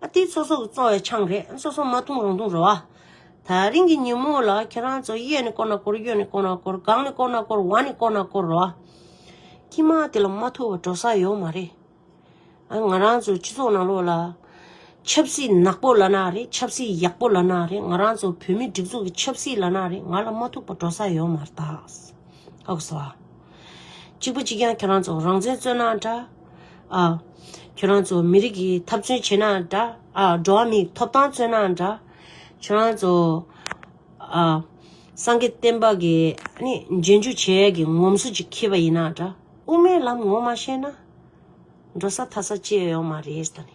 ཨ་ཏི་སོ་སོ་གི་བཙོང་བའི་ཆང་རེད་སོ་སོ་མ་འཐུང་རང་འཐུང་རོ། ད་རིང་གི་ཉིན་མོ་ལ་ཁྱེད་རང་ཚོ་གཡས་ནས་བསྐོར་ན་བསྐོར་གཡོན་ནས་བསྐོར་ན་བསྐོར་སྒང་ནས་བསྐོར་ན་བསྐོར་བར་ནས་བསྐོར་ན་བསྐོར་རོ། ཁྱི་མ་དེ་ལ་མ་ཐུག་པར་འགྲོ་ས་ཡོད་མ་རེད། ཨ་ང་རང་ཚོའི་སྤྱི་ཚོགས་ནང་ལོགས་ལ། ཆབ་སྲིད་ནག་པོ་ལ་ན་རེ་ཆབ་སྲིད་ཡག་པོ་ལ་ན་རེ་ང་རང་ཚོ་བོད་མི་སྒྲིག་འཛུགས་ཀྱི་ཆབ་སྲིད་ལ་ན་རེ་ང་ལ་མ་ཐུག་པར་འགྲོ་ས་ཡོད་མ་རེད། ཨོ་གསོལ་བ། གཅིག་པུ་གཅིག་རྐྱང་ཁྱེད་རང་ཚོ་རང་བཙན་རྩོད་ན་འདྲ། ཨ། ཁྱོད་རང་ཚོ་མི་རིགས་ཀྱི་འཐབ་བརྩོན་བྱས་ན་འདྲ། ཨ། འགྲོ་བ་མིའི་ཐོབ་ཐང་རྩོད་ན་འདྲ། ཁྱོད་རང་ཚོ། ཨ། སངས་རྒྱས་བསྟན་པ་གྱི་ནི་རྗེས་འཇུག་བྱེད་ཡས་ཀྱི་ངོམ་སོ་ཅིག་ཁེལ་བ་ཡིན་ན་འདྲ། དབུ་མའི་ལམ་ངོ་མ་ཤེས་ན། འགྲོ་ས་མཐའ་ས་གཅེས་ཡོང་མ་རེད་ད་ནི།